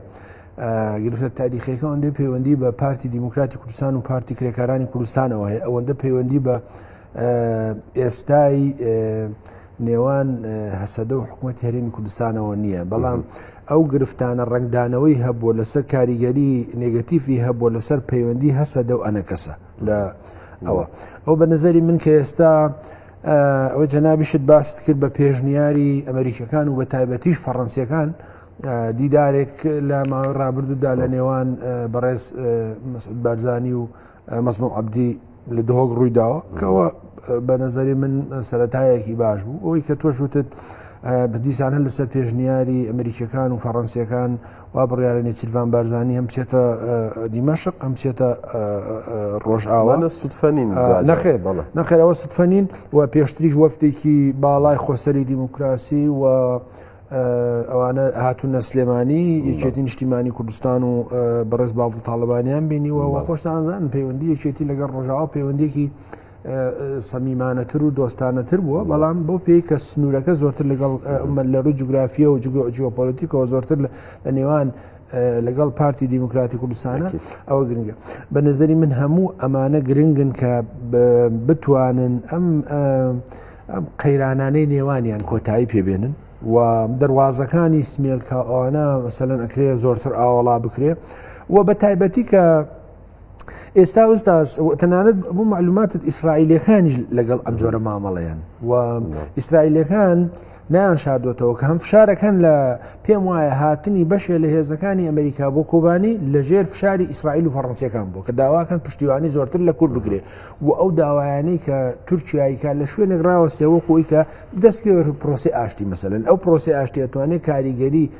گرفتە تاریخەکە ئەوەندەی پەیوەندی بە پارتی دیموکراتی کوردستان و پارتی کرێکارانی کوردستانەوە هەیە ئەوەندە پەیوەندی بە ئێستای نێوان هەسەدە و حکوومەت هەرێمی کوردستانەوە نییە بەڵام ئەو گرفتانە ڕنگدانەوەی هەبووە لەسەر کاریگەری نگەتیفی هەبووە لەسەر پەیوەندی هەسەدە و ئەنەکەسە لە ئەوە ئەو بە نظری من کە ئێستا ئەوەی جەنابیشت باست کرد بە پێشنیاری ئەمریکەکان و بە تایبەتیش فەڕەنسیەکان دیدارێک لە ماوەی ڕابردوودا لە نێوان بەڕێز مەسعود بارزانانی و مەزنۆ عبدی لە دهۆک ڕوویداوە کەەوە بە نظری من سەتایەکی باش بوو ئەوەی کە تۆشوتت بدیسانە لەسەر پێشنیاری ئەمریکیەکان و فەڕەنسیەکان وا بڕیارە نێچیرڤان بارزانی هەم بچێتە دیمەشق هەم بچێتە ڕۆژئاوا. ئەوانە سوتفە نین آه، دواتر. نەخێر بەڵێ. نەخێر ئەوە سوتفە نین و پێشتریش وەفدێکی باڵای خۆسەری دیموکراسی و آه، ئەوانە هاتوونە سلێمانی یەکێتی نیشتیمانی کوردستان و آه، بەڕێز باڤڵ تاڵەبانیان بینیوە و خۆشتان زانن پەیوەندی یەکێتی لەگەڵ ڕۆژاوا پەیوەندیەکی سەمیمانەتر و دۆستانەتر بووە بەڵام بۆ پێی کە سنوورەکە زۆرتر لەگەڵ لە ڕووی جوگرافیە و جیۆپۆلیتیکەوە زۆرتر لە نێوان لەگەڵ پارتی دیموکراتی کوردستانە ئەوە گرنگە بە نظری من هەموو ئەمانە گرنگن کە بتوانن ئەم ئەم قەیرانانەی نێوانیان کۆتایی پێبێنن و دەواازەکانی سمێلکە ئەوانە مەسەن ئەکرێ زۆرتر ئاوەڵا بکرێ و بە تایبەتی کە ئێستا ئوستاز تەنانەت بۆ معلوماتت ئیسرائیلەکانیش لەگەڵ ئەم جۆرە مامەڵەیەن و ئیسرائیلەکان نایان شاردوێتەوە کە هەم فشارەکەن لە پێم وایە هاتنی بەشێ لە هێزەکانی ئەمریکا بۆ کۆبانی لە ژێر فشاری ئیسرائیل و فەڕەنسیەکان بوو کە داواکەن پشتیوانی زۆرتر لە کورد بکرێ و ئەو داوایانەی کە تورکیاییکە لە شوێنێک راوەستێەوە خۆی کە دەست پێ پرۆسی ئاشتی مەسەن ئەو پرۆسی ئاشتێتوانێت کاریگەری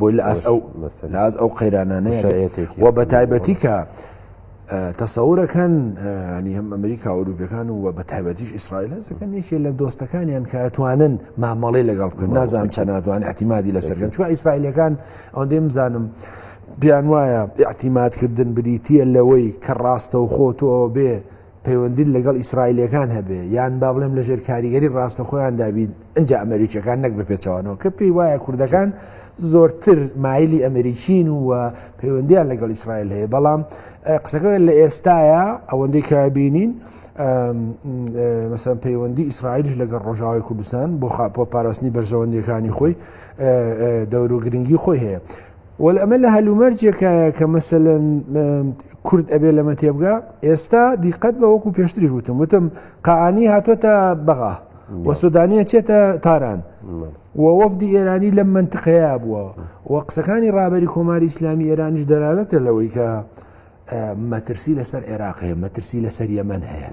بۆی لە ئاس ئەو لە ئاز ئەو قەیرانانەیە و بە تایبەتی کە تەسەورەکەن ینی هەم ئەمریکا ئەوروپەکان و بە تایبەتیش ئیسرائیل هەزەکەن یەکێ لە دۆستەکانیان کاتوانن مامەڵی لەگەڵ بکەن نازانم چە ناتوان احتیمادی لە سەرگەن چوە ئیسرائیلەکان ئەو دێم زانم. بیان وایە احتیماتکردن بریتە لەوەی کە ڕاستە و خۆ تۆ بێ پەیوەندیت لەگەڵ ئیسرائیلیەکان هەبێ یان با بڵێم لە ژێر کاریگەری ڕاستەخۆیاندا بیت ئنجا ئەمریکیەکان نەک بە پێچەوانەوە کە پێی وایە کوردەکان زۆرتر مایلی ئەمریکین و و پەیوەندیان لەگەڵ ئیسرائیل هەیە بەڵام قسەکە لە ئێستاە ئەوەندەی کە بینین مەسەن پەیوەندی ئیسرائیلش لەگەڵ ڕۆژاوای کوردستان بۆ خاپۆ پاراستنی بەرژەوەندیەکانی خۆی دەور و گرنگی خۆی هەیە وەل ئەمە لە هەلومەرجێکایە کە مەسەلەن کورد ئەبێ لەمە تێبگا ئێستا دیقەت بە وەکو پێشتریش وتم وتم قانی هاتوۆتە بەغا و سودانیە چێتە تاران و وەفدی ئێرانی لەم منتقەیە بووە و قسەکانی ڕابەری کۆماری ئیسلامی ئێرانیش دەرالەتە لەوەی کە مەترسی لەسەر عێراق هەیە مەترسی لەسەر یەمەن هەیە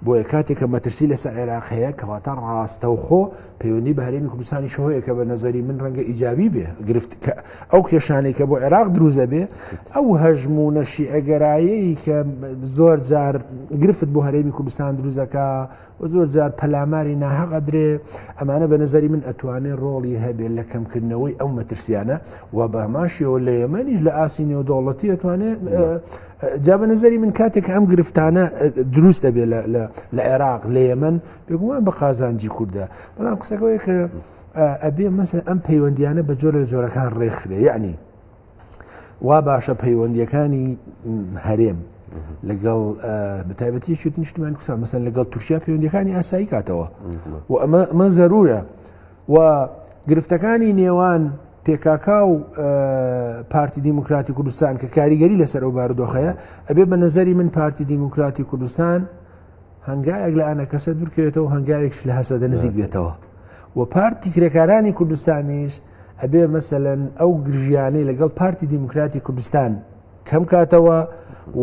بۆیە کاتێک کە مەترسی لەسەر عێراق هەیە کەواتە ڕاستەوخۆ پەیوەندی بە هەرێمی کوردستانی شەهەیە کە بە نظری من ڕەنگە ئیجابی بێ گرفت کە ئەو کێشانەی کە بۆ عێراق دروزە بێ ئەو هەژم و نەشی ئەگەرایی کە زۆر جار گرفت بۆ هەرێمی کوردستان دروزەکە و زۆر جار پەلاماری ناهەق ئەدرێ، ئەمانە بە نەزەری من ئەتوانێ ڕۆڵی هەبێ لە کەمکردنەوەی ئەو مەترسیانە و بە هەمان شێوە لە یەمەنیش لە ئاستی نێودەوڵەتی ئەتوانێ جا بە نەزەری من کاتێک کە ئەم گرفتانە دروست دەبێ لە عێراق لە یەمەن بێگومان بە قازانجی کوردە بەڵام قسەکەوەی کە ئەبێ مەسە ئەم پەیوەندیانە بە جۆرە لە جۆرەکان ڕێکخرێ یعنی وا باشە پەیوەندیەکانی هەرێم لەگەڵ بەتابەتی شت نیشتمان کوسا مەسەن لەگەڵ تورکیا پەیوەندەکانی ئاسایی کاتەوە و ئەمە ئەمە زەرورە و گرفتەکانی نێوان پێکاکا و پارتی دیموکراتی کوردستان کە کاریگەری لەسەر ئەو بارودۆخەیە ئەبێ بە نظری من پارتی دیموکراتی کوردستان هەنگایەک لە ئەە کەسە دوورکەوێتەوە هەنگاوێکش لە هەسەدە نزیک بێتەوە و پارتی کرێکارانی کوردستانیش ئەبێ مەسەلەن ئەو گرژیانەی لەگەڵ پارتی دیموکراتی کوردستان کەم کاتەوە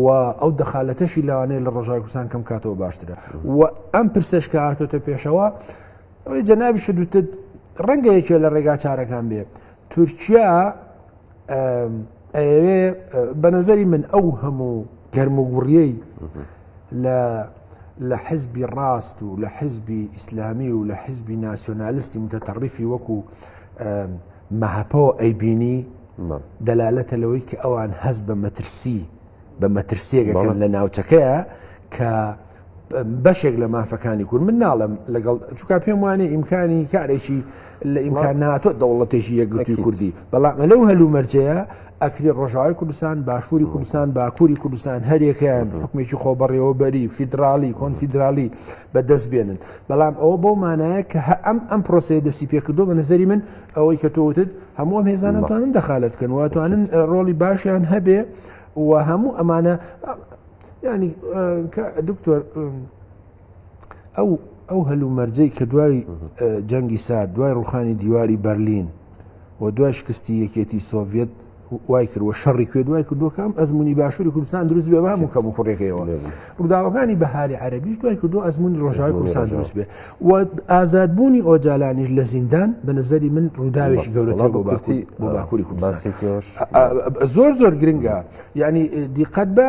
و ئەو دەخالەتەشی لەوانەیە لە ڕۆژای کوردستان کەم کاتەوە باشترە و ئەم پرسەش کە هاتۆتە پێشەوە ئەوەی جەنابی شدوتت ڕەنگە یەکێ لە ڕێگا چارەکان بێ تورکیا ئەوێ بە نظری من ئەو هەموو گەرموگوڕیەی لە لە حزبی ڕاست و لە حزبی ئیسلامی و لە حزبی ناسیۆنالستی متەتەڕیفی وەکو مەهەپەوە ئەیبینی دەلالەتە لەوەی کە ئەوان هەز بە مەترسی بە مەترسیەکەکەن لە ناوچەکەیە کە بەشێک لە مافەکانی کورد من ناڵم لەگەڵ چکا پێم وانێ ئیمکانی کارێکی لە ئیمکان ناتۆ دەوڵەتێکی یەکگرتوی کوردی بەڵام لەو هەلومەرجەیە ئەکرێ ڕۆژاوای کوردستان، باشووری کوردستان، باکووری کوردستان هەریەکەیان حوکمێکی خۆبەڕێوەبەری، فیدراڵی، کۆنفیدراڵی بە دەست بێنن. بەڵام ئەوە بەو مانایە کە هە ئەم ئەم پرۆسەیە دەستی پێ کردووە، بە نەزەری من ئەوەی کە تۆ وتت هەموو ئەم هێزانە ئەتوانن دەخالەت بکەن و ئەتوانن ڕۆڵی باشیان هەبێ و هەموو ئەمانە یانی کە دکتۆر ئەو هەلومەرجەی کە دوای جەنگی سارد، دوای ڕووخانی دیواری بەرلین و دوای شکستی یەکێتی سۆڤیەت وایکرد و شەڕی کوێت وای کردووە کە ئەم ئەزمونی باشووری کوردستان دروست بێ بە هەموو کەم و کوڕێکەوە ڕووداوەکانی بەهاری عەربیش دوای کردو ئەزمونی ڕۆژاوی کوردستان دروست بێ و ئازادبوونی ئۆجالانیش لە زیندان بە نظری من ڕووداوێکی گەورەتر بۆ باکووری بۆ باکووری کوردستان زۆر زۆر گرنگە یعنی دیقەت بە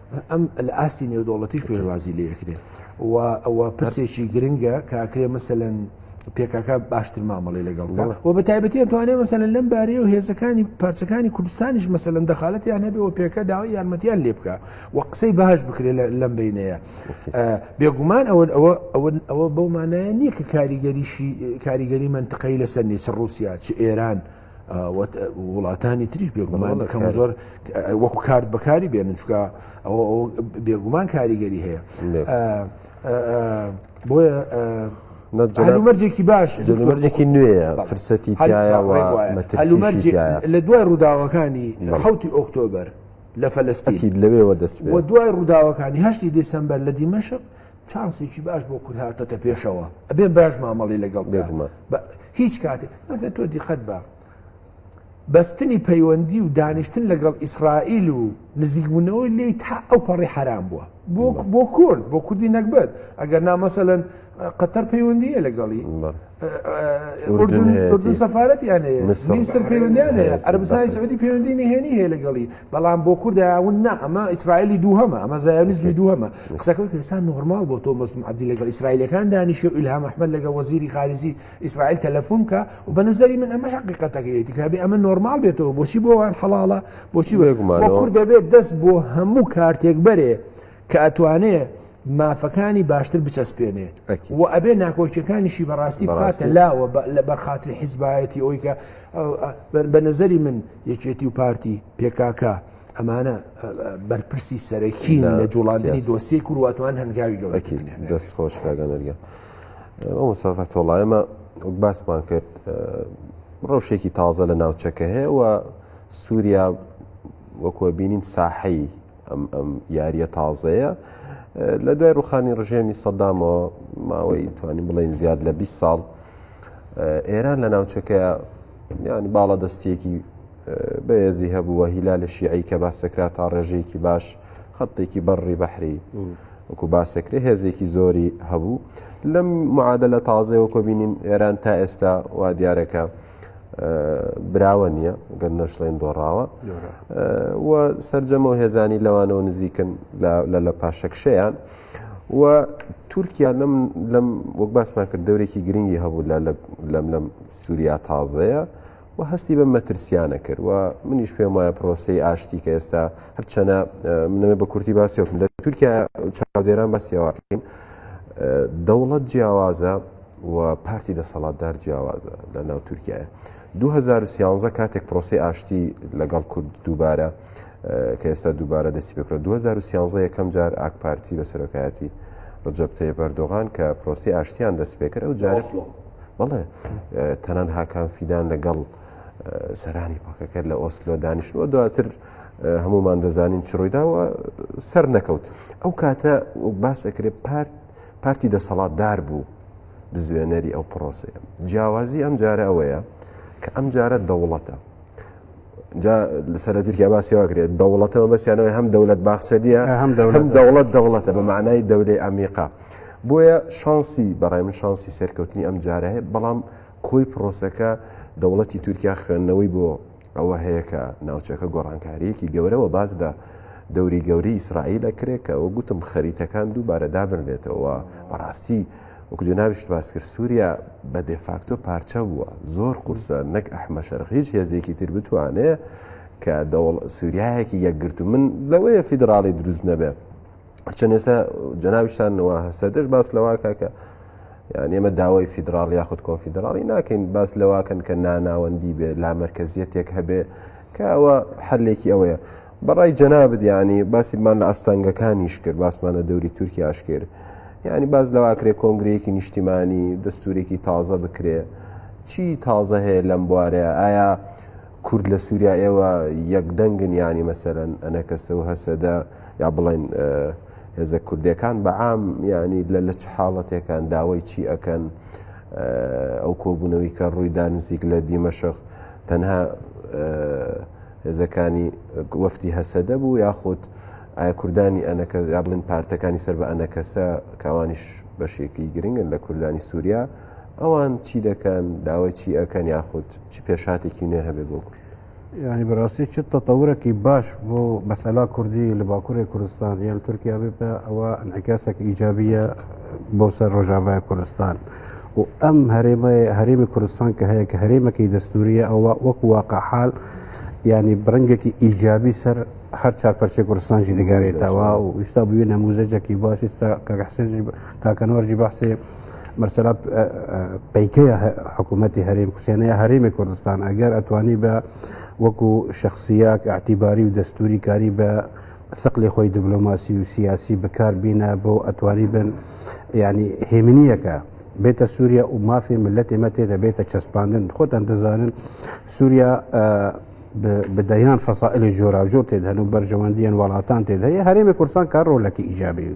ئەم لە ئاستی نێودەوڵەتیش پێشوازی لێ ئەکرێ و ئەوە پرسێکی گرنگە کە ئەکرێ مەسەن پێکاکە باشتر مامەڵی لەگەڵ و بە تایبەتی توانێ مەسەن لەم بارەیە و هێزەکانی پارچەکانی کوردستانیش مەسەن دەخالەتیان هەبێ و پێکە داوای یارمەتیان لێ بکە و قسەی باش بکرێت لەم بینەیە بێگومان ئەوە ئەوە ئەوە ئەوە بەو مانایە نییە کە کاریگەریشی کاریگەری منتقەی لەسەر نیچ رووسیا چ ئێران وڵاتانی تریش بێگومان کەم زۆر وەکو کارد بەکاری بێنن چکە ئەوە بێگومان کاریگەری هەیە بۆیە هەلومەرجێکی باش هەلومەرجێکی نوێیە فرسەتی لە دوای ڕووداوەکانی حوتی ئۆکتۆبەر لە فەلستیت لەوێەوە دەست دوای ڕووداوەکانی هەشتی دیسمبەر لە دیمەشق چانسێکی باش بۆ کورد هاتۆتە پێشەوە ئەبێ باش مامەڵی لەگەڵ بکە بێگومان بە هیچ کاتێک مەسەن تۆ دیقەت بە بەستنی پەیوەندی و دانیشتن لەگەڵ ئیسرائیل و نزیکبوونەوەی لێی تا ئەو پەڕی حەرام بووە بۆ بە بۆ کورد بۆ کوردی نەگبەت ئەگەر نا مەسەلەن قەتەر پەیوەندییە لەگەڵی بەڵێ ئوردن هەیە، ئوردن هەیەتی. سەفارەتیان هەیە، میسر. میسر پەیوەندیان هەیە، بەحرەین. عەرەبستانی بەحرەین. سعودی پەیوەندی نهێنی هەیە لەگەڵی، بەڵام بۆ کورد هاون نا، ئەمە ئیسرائیلی دووهەمە، ئەمە زایۆنیزمی دووهەمە. قسەکە وەک ئێستا نۆرماڵ بۆ تۆ مەزلوم عەبدی لەگەڵ ئیسرائیلیەکان دانیشێ و ئیلهام ئەحمەد لەگەڵ وەزیری خارجی ئیسرائیل تەلەفون بکا و بە نەزەری من ئەمەش هەقیقەتەکەیە، تکابێ ئەمە نۆرماڵ بێتەوە، بۆچی بۆ ئەوان حەڵاڵە، بۆچی بێگومانەوە. وە کورد دەبێ دەست بۆ هەموو کارتێک بەرێ کە ئەتوانێ مافەکانی باشتر بچەسپێنێ و ئەبێ ناکۆکیەکانیشی بەڕاستی بڕاستە لاوە لە بەرخاتری حیزبایەتی ئەوی کە بە نظری من یەکێتی و پارتی پێکاکە ئەمانە بەرپرسی سەرەکی لە جوڵاندنی دۆسیەی کورواتوان هەنگاوی گەورەکی دەست خۆش کاگەنەرگە ئەو مسافە تۆڵایمە وەک باسمان کرد ڕەوشێکی تازە لە ناوچەکە هەیە و سووریا وەکوە بینین ساحەی ئەم ئەم یاریە تازەیە لە دوای ڕوخانی ڕژێمی سەدامەوە ماوەی توانی بڵێن زیاد لە 20 ساڵ ئێران لە ناوچەکە ینی باڵە دەستیەکی بەێزی هەبووە هیلا لە شیعی کە باسەکرا تا ڕێژەیەکی باش خەتێکی بەڕی بەحری وەکو باسەکرێ هێزێکی زۆری هەبوو لەم معادە لە تازەوە کۆبینین ئێران تا ئێستا وا دیارەکە. براوە نییە گەر نەشڵێن دۆڕاوە و سرجەمە و هێزانی لەوانەوە نزیکن لە لە پاشەکشەیان و تورکیا لەم لەم وەک باسمان کرد دەورێکی گرنگی هەبوو لە لەم لەم سووریا تازەیە و هەستی بە مەترسیانە کرد و منیش پێم وایە پرۆسی ئاشتی کە ئێستا هەرچەنە منەوە بە کورتی باسی وکم لە تورکیا چاودێران بەسیێواکەین دەوڵەت جیاوازە و پارتی دەسەڵاتدار جیاوازە لە ناو تورکیایە. دوو هەزار و سیانزە کاتێک پرۆسەی ئاشتی لەگەڵ کورد دووبارە کە ئێستا دووبارە دەستی پێکرا دوو هەزار و سیانزە یەکەم جار ئاک پارتی بە سەرۆکایەتی ڕەجەب تەیب ئەردۆغان کە پرۆسەی ئاشتیان دەست پێ کرد ئەو جارە بەڵێ تەنان هاکان فیدان لەگەڵ سەرانی پەکەکە لە ئۆسلۆ دانیشتووە دواتر هەمومان دەزانین چ ڕوویداوە سەر نەکەوت ئەو کاتە باس ئەکرێت پارت پارتی دەسەڵات دار بوو بزوێنەری ئەو پرۆسەیە جیاوازی ئەم جارە ئەوەیە کە ئەم جارە دەوڵەتە جا لەسەر تورکیا باسی واگرێت دەوڵەتەوە بەسیانەوەی هەم دەولەت باخچەلیە هەم دەوڵەت دەوڵەتە بە معنای دەولەی ئەمیقا بۆیە شانسی بەڕای من شانسی سەرکەوتنی ئەم جارە هەیە بەڵام کۆی پرۆسەکە، دەوڵەتی تورکیا خوێندنەوەی بۆ ئەوە هەیە کە ناوچەکە گۆڕانکارییەکی گەورە وە باس لە دەوری گەورەی ئیسرائیل ئەکرێت کە وەک گوتم خەریتەکان دووبارە دابنرێتەوە وە بەڕاستی وەکو جەنابیشت باس کرد سوریا بە دێفاکتۆ پارچە بووە زۆر قورسە نەک ئەحمە شەرق هیچ هێزێکی تر بتوانێت کە دەوڵ سوریایەکی یەکگرتوو من لەوەیە فیدراڵی دروست نەبێت چەند ئێستا جەناویشتان نەوە هەسەدەش باس لەواکە کە یان ئێمە داوای فیدراڵ یاخود کۆنفیدراڵی ناکەین باس لەواکەن کە ناناوەندی بێ لا مرکزیەتێک هەبێ کە ئەوە حلێکی ئەوەیە بەڕای جەنا بدیانی باسیمان لە ئاستانگەکانیش کرد باسمان لە دەوری تورکی ئاشکرد یعنی باز لەواکرێ کۆنگرەیەکی نیشتیمانی دەستورێکی تازە بکرێ چی تازە هەیە لەم بوارەیە ئایا کورد لە سوریا ئێوە یەک دەنگن یانی مەسەلەن ئەنەکەسە و هەسەدە یا بڵێن هێزە کوردەکان بە عام یانی لە لە چ حاڵەتێکان داوای چی ئەکەن ئەو کۆبوونەوەی کە ڕوویدا نزیک لە دیمەشق تەنها هێزەکانی وەفتی هەسەدە بوو یاخود ئایا کوردانی ئەنەکە یا بڵین پارتەکانی سەر بە ئەنەکەسە کاوانیش بەشێکی گرنگن لە کوردانی سووریا ئەوان چی دەکەن داوای چی ئەکەن یاخود چ پێشاتێکی نوێ هەبێ بۆ کورد ینی بەڕاستی چ تەتەورەکی باش بۆ مەسەلا کوردی لە باکووری کوردستان یان تورکیا بێتە ئەوە ئەنعکاسێک ئیجابیە بۆ سەر ڕۆژاوای کوردستان و ئەم هەرێمە هەرێمی کوردستان کە هەیە کە هەرێمەکی دەستوریە ئەوە وەک واقع حال ینی بڕنگێکی ئیجابی سەر هەر چار پەرچێ کوردستان جی دەگەرێتەوە و ویستا بووی نەموزەجێکی باش ستا کاکەحسێنجی کاکەنوەرجی بەحسێ مەسەلا پیکەیە حکوومەتتی هەرێم کوسێنەیە هەرێمی کوردستان ئەگەر ئەتوانی بە وەکو شخصیاک ئاعتیباری و دەستوری کاری بە سەقلی خۆی دیبلۆماسی و سیاسی بکار بینە بۆ ئەتوانی بن ینی هێمنیەکە بێتە سووریا و مافی ملت ئێمە تێدا بێتە چەسپاندن خۆتان دەزانن سووریا بدەیان فەسائلی جۆراوجۆر تێدهن و بەرژەوەندیان وڵاتان تێدهەیە هەرێمی کورسان کار ڕۆلەکی ئیجابی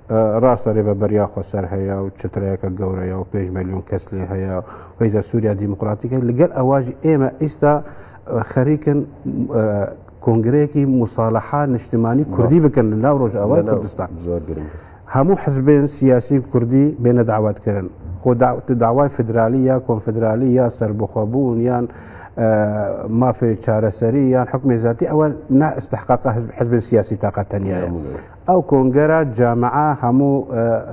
ڕاستە رێبە بەریا خۆسەر هەیە و چەترەیەکە گەورەیە و پێش ملیۆن کەس لێ هەیە ویزە سووریا دیموکراتیکە لەگەر ئەواژ ئێمە ئیستا خەریکن کۆنگرەیەکی مساالحا نیشتمانی کوردی بکەن لە ناو ڕۆژاوای کوردستان زۆر گرنگ هەموو حزبێن سیاسی کوردی بێنە داواتکردن خۆ داوای فدرالی یا کۆنفدرالی یا سربخۆبوون یان مافێ چارەسەری یان حکومێزاتی ئەوە نائستحقاق حزب حزب سیاسی تااقەتەنیە ئەو کۆنگەرە جامعە هەموو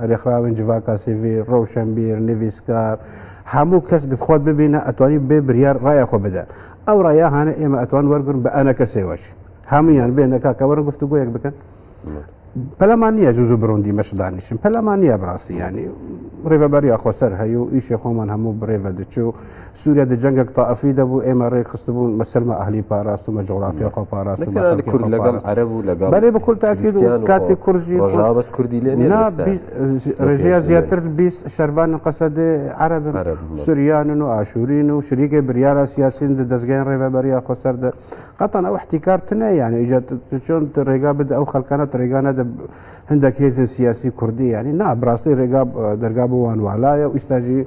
رێکخراوین جڤاکا سیڤیل، رەوشەنبیر، نڤیسکار، هەموو کەس گتخۆت ببینە ئەتوانی بێ بریار رایە خۆ بدە. ئەو رایە هانە ئێمە ئەتوان وەرگرن بە ئەنەکەسێوەش. هەموویان بێنە کاکە وەرن گفتوگۆیەک بکەن. پەلەمان نییە زوو زوو بڕۆن دیمەشق دانیشن. پەلەمان نییە بڕاستی یانی. رێڤەبەری ئاخۆسەر هەیوو ئیشێ خۆمان هەموو بڕێڤە دچوو. سوریا دە جەنگەک تائفی دە بوو ئێمە ڕێک خستبوون مە سەلمە ئەهلی پاراستن مە جوغرافیا خۆ پاراستن مە خەلکی خۆ پاراستن بەلێ بە کل تاکید و کاتی کورجی نا ڕێژیا زیاتر بیس شەربان قەسە دێ عەرەبن سوریانن و ئاشورین و شریکێ بریارە سیاسین دە دەزگەین ڕێبە بەریا خۆ سەر دە قەتان ئەو احتیکار تنە یانە ئیجا چۆن ڕێگا بدە ئەو خەلکانە ڕێگانە دە هەندێک هێزن سیاسی کوردی یانی نا بڕاستی ڕێگا دەرگا بۆ وان والایە و ئیستاژی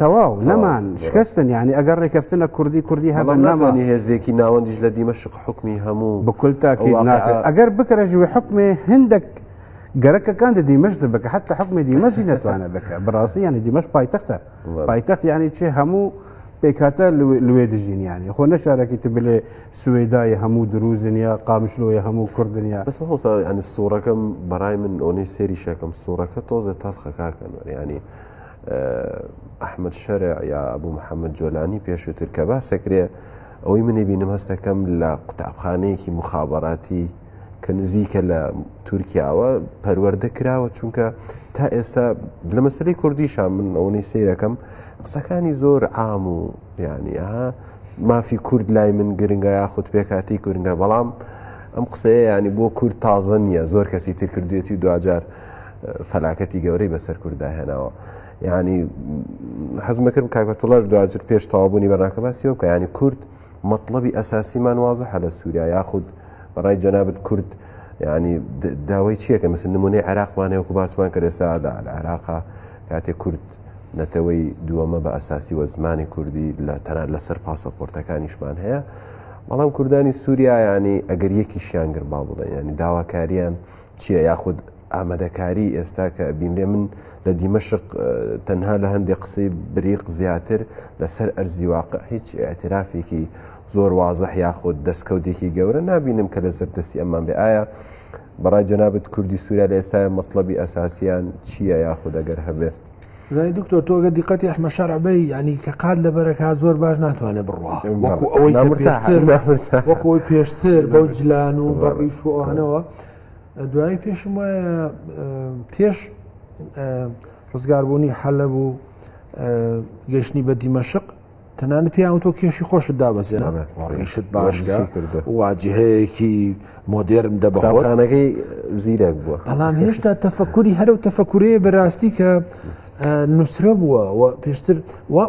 تەواو نەمان شکستن یعنی ئەگەر ڕێکەفتنە کوردی کوردی هەڵم بەڵام نەما ناتوانانی هێزێکی ناوەندیش لە دیمەشق حکمی هەموو بكل تاكيد واقعە. ناکرد ئەگەر بکرە ژوی حکمێ هندێک گەرەکەکان دە دیمەشق بکە حتی حکمی دیمەشی نەتوانە بکە بڕاستی یعنی دیمەش پایتەختە وەڵا. پایتەخت یعنی چێ هەموو پێکهاتە لوێ لوێ دژین یعنی خۆ نە شارەکی تو بلێ سوەیدای هەموو دروزن یا قامشلۆیە هەموو کوردن یا بەس مامۆستا یانی سوڕەکەم بەڕای من ئەونەی سێریشەکەم سوڕەکە تۆزێ تەڵخە کاکە نۆر یانی ئەحمەد شەرع یا ئەبوو محەمەد جۆلانی پێشووتر کە باسەکرێ ئەوەی منی بینم هەستەکەم لە قوتابخانەیەکی مخابەراتی کە نزیکە لە تورکیاوە پەروەەردە کراوە چونکە تا ئێستا لە مەسلەی کوردیشان من ئەوەی سیرەکەم قسەکانی زۆر عام و ینی ها مافی کورد لای من گرنگە یاخود پێکاتی گرنگە بەڵام ئەم قسەیە ینی بۆ کورد تازە نییە زۆر کەسی تر کردوێتی و دوجار فەلاکەتی گەورەی بەسەر کورددا هێناوە ینی حەزمەکرد کاکەتوڵاش دواتر پێش تەوابوونی بەناکە باسیەوە کە ینی کورد مطلبی ئەساسیمان وازە هەلە سووریا یاخود بەڕای جەنابەت کورد ینی داوای چیەکە مثل نمونەی عراقمانەیەکو باسمان کە ئێستا لە عراقا کاتێ کورد نەتەوەی دووەمە بە ئەساسی وە زمانی کوردی لە تەنات لەسەر پاسەپۆرتەکانیشمان هەیە بەڵام کوردانی سووریایانی ئەگەر یەکیشیانگر با بڵێ ینی داواکاریان چییە یاخود ئامادەکاری ئێستا کە ئەبینرێ من لە دیمەشق تەنها لە هەندێ قسەی بریق زیاتر لە سەر ئەرزی واقع هیچ ئاعترافێکی زۆر وازح یاخود دەستکەوتێکی گەورە نبینم کە لە سەر دەستی ئەمان بێ ئایا بەڕای جەنابەت کوردی سووریا لە ئێستاە مەطلبی ئەساسیان چییە یاخود ئەگەر هەبێت زای دکتۆر تۆگە دیقەتی ئەحمە شەرعبەی ینی کە قات لە بەرەکە زۆر باش ناتوانێت بڕوا وەکو ئەوەی وەکۆی پێشتر بەو جلان و بەڕیشوانەوە دوایی پێشم وایە پێش ڕزگاربوونی حەلە بوو گەشتنی بە دیمەشق تەنانە پیاوە تۆ کێشی خۆشت دابەزێنە ڕیشت باش کرد واجهەیەکی مۆدێرم دەبخۆانەکەی زیرەک بووە بەڵام هێشتا تەفەکوری هەرو تەفەکورەیە بەراستی کە نووسرە بووە پێشتر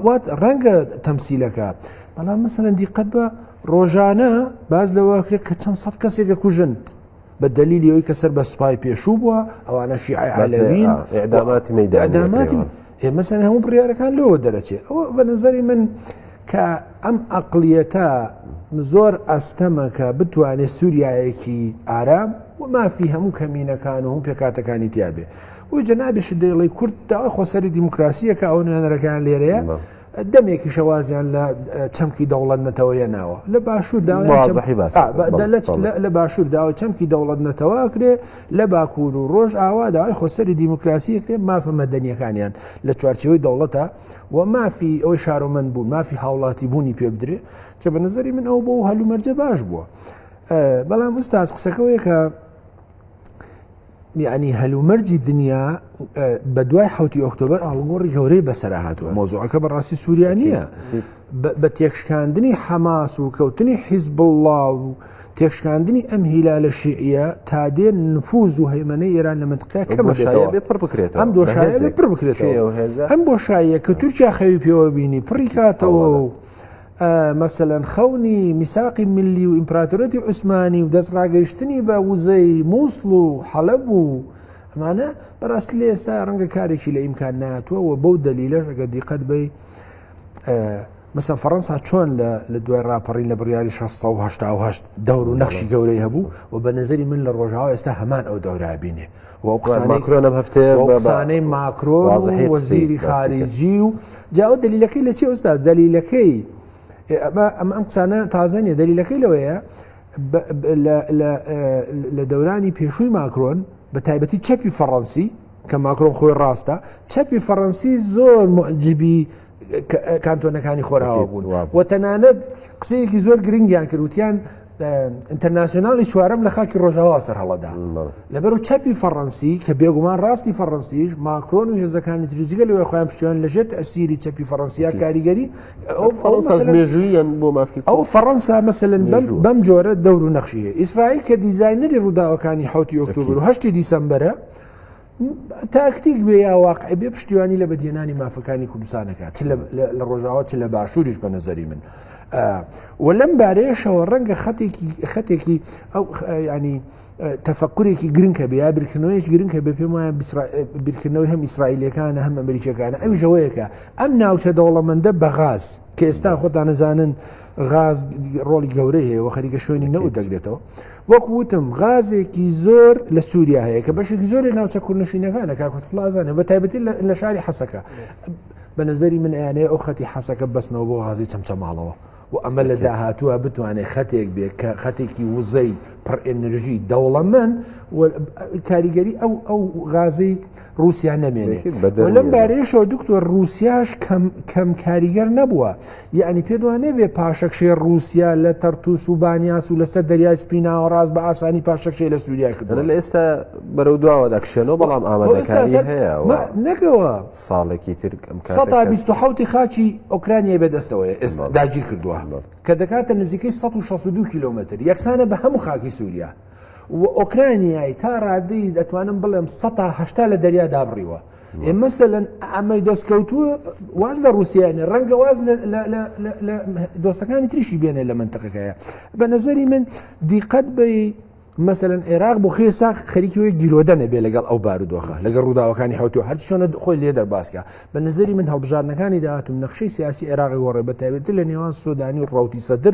وات ڕەنگە تەمسیلەکە بەڵام مەسەن دیقەت بە ڕۆژانە باس لەوە کرێت کە چەند سەد کەسێک دەکوژن بە دەلیلی ئەوی کە سەر بە سوپای پێشوو بووە ئەوانە شیعی عالەوین ئەداماتی مەداماتی ئێمەسەر هەموو بڕارەکان لەوە دەرەچێت ئەوە بە نظری من کە ئەم ئەقلیەتە زۆر ئەستەمەکە بتوانێت سووریایەکی ئارام و مافی هەموو کەمینەکان و هەم پێکاتەکانی تیاابێ بۆی جەنابیش دەیڵی کورد داوای خۆسەری دیموکراسیە کە ئەو نوێنەرەکان لێرەیە. دەمێکیشە وازیان لە چەمکی دەوڵەت نەتەوە یەناوە لە باشوور لە باشوور داوای چەمکی دەوڵەت نەتەوە کرێ لە باکوور و ڕۆژ ئاوا داوای خۆسەری دیموکراسی کرێ مافە مەدەنیەکانیان لە چوارچەوەی دەوڵەتە و مافی ئەوەی شارۆمەند بوون مافی هاوڵاتی بوونی پێ بدرێ کە بە نظری من ئەو بۆ هەلومەرجە باش بووە بەڵام ئوستاز قسەکەەوەیە کە یەعنی هەلومەرجی دنیا بە دوای حوتی ئۆکتۆبەر ئاڵگۆڕی گەورەی بەسەرا هاتووە مۆزۆعەکە بەڕاستی سووریا نییە بە تێکشکاندنی حەماس و کەوتنی حیزب بڵڵا و تێکشکاندنی ئەم هیلا لە شیعە تا دێ نفوز و هەیمەەی ئێران لە منتقیا کەمەشایە پڕ بکرێت ئەم دۆشایە پڕ بکرێت ئەم بۆشاییە کە تورکیا خەوی پێوە بینی پڕی کاتەوە و مەسەلەن خەونی میساقی ملی و ئیمپراتۆریەتی عوسمانی و دەست ڕاگەیشتنی بە وزەی موسڵ و حەلەب و ئەمانە بەڕاستی لە ئێستا ڕەنگە کارێکی لە ئیمکان ناتوە و بەو دەلیلەش ئەگە دیقەت بی مەسەن فەڕەنسا چۆن لە دوای ڕاپەڕین لە بڕیاری 1680 دەور و نەخشی گەورەی هەبوو و بە نظری من لە ڕۆژاوە ئێستا هەمان ئەو دەورابینێ وەوقسانەی ماکرۆن و وەزیری خارجی و جا ئەو دەلیلەکەی لە چی ئوستاز دەلیلەکەی ئەمە ئەم ئەم قسانە تازە نیە دەلیلەکەی لەوەیە لە دەورانی پێشووی ماکرۆن بە تایبەتی چەپی فەڕەنسی کە ماکرۆن خۆی ڕاستە چەپی فەڕەنسی زۆر معجبی کانتۆنەکانی خۆراوە بوون و تەنانەت قسەیەکی زۆر گرنگیان کردوتیان ئینتەرناسیۆنالی چوارم لە خاکی ڕۆژاوا سەر هەڵەدا لەبەر و چەپی فەڕەنسی کە بێگومان ڕاستی فەڕەنسیش ماکرۆن و هێزەکانی تریجگە لەوەی خۆیان پشتیان لەژێت ئەسیری چەپی فەڕەنسیا کاریگەری ئەو فەڕەنساژمێژویان بۆ مافی ئەو فەڕەنسا مەسەن بەم جۆرە دەور و نەخشیە ئیسرائیل کە دیزایینەری ڕووداوەکانی حوتی ئۆکتۆبر و هەشتی دیسمبرە تاکتیک بێ یا واقعی بێ پشتیوانی لە بەدیێنانی مافەکانی کوردستانەکە چ لە ڕۆژاوە چ لە باشووریش بە نەزەری من و لەم بارەیەشەوە ڕەنگە خەتێکی خەتێکی ئەو ینی تەفکرێکی گرنگکە بێ یا بیرکردنەوەیش گرنگکە بێ پێم وایە بیرکردنەوەی هەم ئیسرائیلەکانە هەم ئەمریکەکانە ئەوی ژەوەیەکە ئەم ناوچە دەوڵەمەندە بە غاز کە ئێستا خۆتانەزانن غاز ڕۆڵی گەورەی هەیە و خەریکە شوێنی نەوت دەگرێتەوە. وەک وتم غازێکی زۆر لە سووریا هەیە کە بەشێکی زۆر لە ناوچە کوردنشینەکانە کاکوت پلازانە بە تایبەتی لە شاری حەسەکە بە نظری من ئەیانەیە ئەو خەتی حەسەکە بەسنەوە بۆ غازی چەمچەماڵەوە و ئەمە لە داهاتووە بتوانێت خەتێک بێت کە خەتێکی وزەی پڕ ئەنرژی دەوڵەمەند کاریگەری ئەو ئەو غازی ڕوسیا نەمێنێت و لەم بارەیەشەوە دکتۆر ڕوسیاش کەم کاریگەر نەبووە یعنی پێدوانێ بێ پاشەکشێ ڕوسیا لە تەرتوس و بانیاس و لەسەر دەریای سپیناوە ڕاست بە ئاسانی پاشەکشێ لە سووریا کردن لە ئێستا بەرەو دواوە دەکشێنەوە بەڵام ئامادەکاری هەیە نەکەوە ساڵێکی تر سەدا 1970 خاچی ئۆکرانیای بەدەستەوەی ئێستا داگیر کردووە کە دەکاتە نزیکەی 1662 کیلومتر یەکسانە بە هەموو خاکی سووریا و ئۆکرانیای تا ڕادەی ئەتوانم بڵێم سەتا هەشتا لە دەریا دابڕیوە ئێ مەسەن ئەمەی دەستکەوتووە واز لە رووسیانە ڕەنگە واز دۆستەکانی تریشی بێنێ لە منتەقەکەیە بە نظری من دیقەت بی مەسەن عێراق بۆ خێ ساخ خەریکی وی گیرۆدە نەبێ لەگەڵ ئەو بارودۆخە لەگەڵ ڕووداوەکانی حوتو هەرچۆنە خۆی لێ دەرباسکە بە نظری من هەڵبژارنەکانی داهاتم نەخشەی سیاسی عێراق گۆڕێ بە تایبێت لە نێوان سودانی و ڕوتی سەدر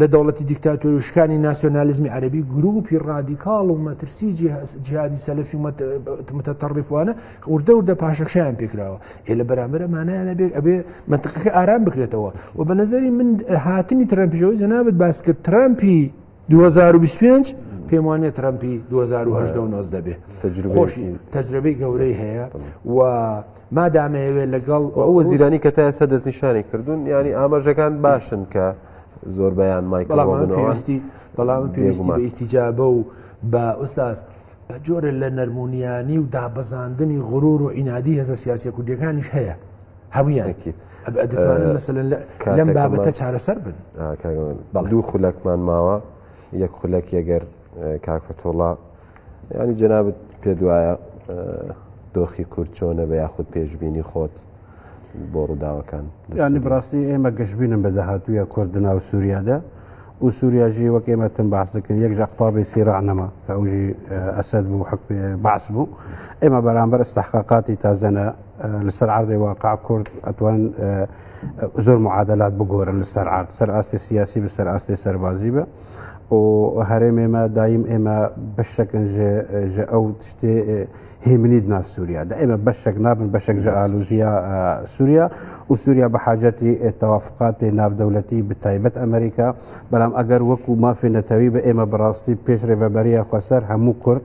لە دەوڵەتی دیکتاتۆری و شکانی ناسیۆنالیزمی عەرەبی، گرووپی ڕادیکاڵ و مەترسی جیهادی سەلەفی و متطرفوانە وردە وردە پاشەکشەیان پێکراوە. ئێ لە بەرامبەر ئەمانەیانا بێ ئەبێ مەنتقەکە ئارام بکرێتەوە و بە نەزەری من هاتنی ترەمپیش ئەوەی جەنابت باست کرد ترەمپی دوو هەزار و بیست و پێنج پێم وانە ترەمپی دوو هەزار و هەژدە و نۆزدە بێ تەجروبەی گەورەی هەیە و مادامەیەوێ لەگەڵ. و ئەو وەزیرانی کە تا ئێستا دەستنیشانی کردوون یانی ئاماژەکان باشن کە زۆربەیان مایکڵ بەڵام ئەمن ڕۆبن و ئەوان پێویستی بەڵام ئەمن پێویستی بە بێگومان ئیستیجابە و بە ئوستاز بە جۆرێ لە نەرمونیانی و دابەزاندنی غرور و عینادی هێزە سیاسیە کوردیەکانیش هەیە هەمویان ئەکید ئەب ئە دەتوانن ئە، مەسەلەن لە لەم بابەتە کاتەکەمان چارەسەر بن ئا، کاک ئەمین بەڵێ. دوو خولەکمان ماوە یەک خولەکی ئەگەر ئە، کاک فەتحوڵا. یانی جەنابت پێت وایە دۆخی کورد چۆنە بە یاخود پێشببینی خۆت بۆ ڕووداوەکان ینی بڕاستی ئێمە گەشتبینم بە داهاتووە کورد ناو سووریادا و سووریاژی وەک ئێمە تم باسەکرد یەک ژەقتابی سیرانەما کە ئەوژی ئەسد بوو حک باس بوو ئێمە بەرامبەر استحقاقاتی تازەنە لەسەر عردی واقع کورد ئەتوان زۆر معادلات بگۆرن لەسەر عرد سەر ئاستی سیاسی بەسەر ئاستی سەربازی بە ئۆ هەرێم ئێمە دایم ئێمە بەشەکن ژە ئەو شتێ هێمنید نا سووریا دا ئێمە بەشەک نابن بەشەک ژە ئالوزیا سووریا و سووریا بە حاجەتی تەوافقاتی ناودەولەتی بتایبەت ئەمریکا بەڵام ئەگەر وەکو مافی نەتەوی بە ئێمە بەڕاستی پێش رێبەبەریە خۆسەر هەموو کورد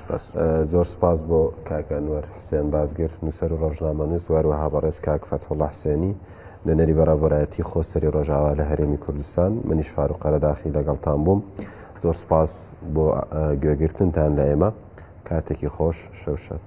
سپاس. زۆر سپاس بۆ کاک ئەنوەر حسێن بازگر، نووسەر و ڕۆژنامەنووس و هەروەها بەڕێز کاک فەتحوڵا حسێنی، نوێنەری بەڕێوەبەرایەتیی خۆسەری ڕۆژاوا لە هەرێمی کوردستان. منیش فاروق قەرەداخی لەگەڵتان بووم. زۆر سپاس بۆ گوێگرتنتان لە ئێمە. کاتێکی خۆش. شەو شاد.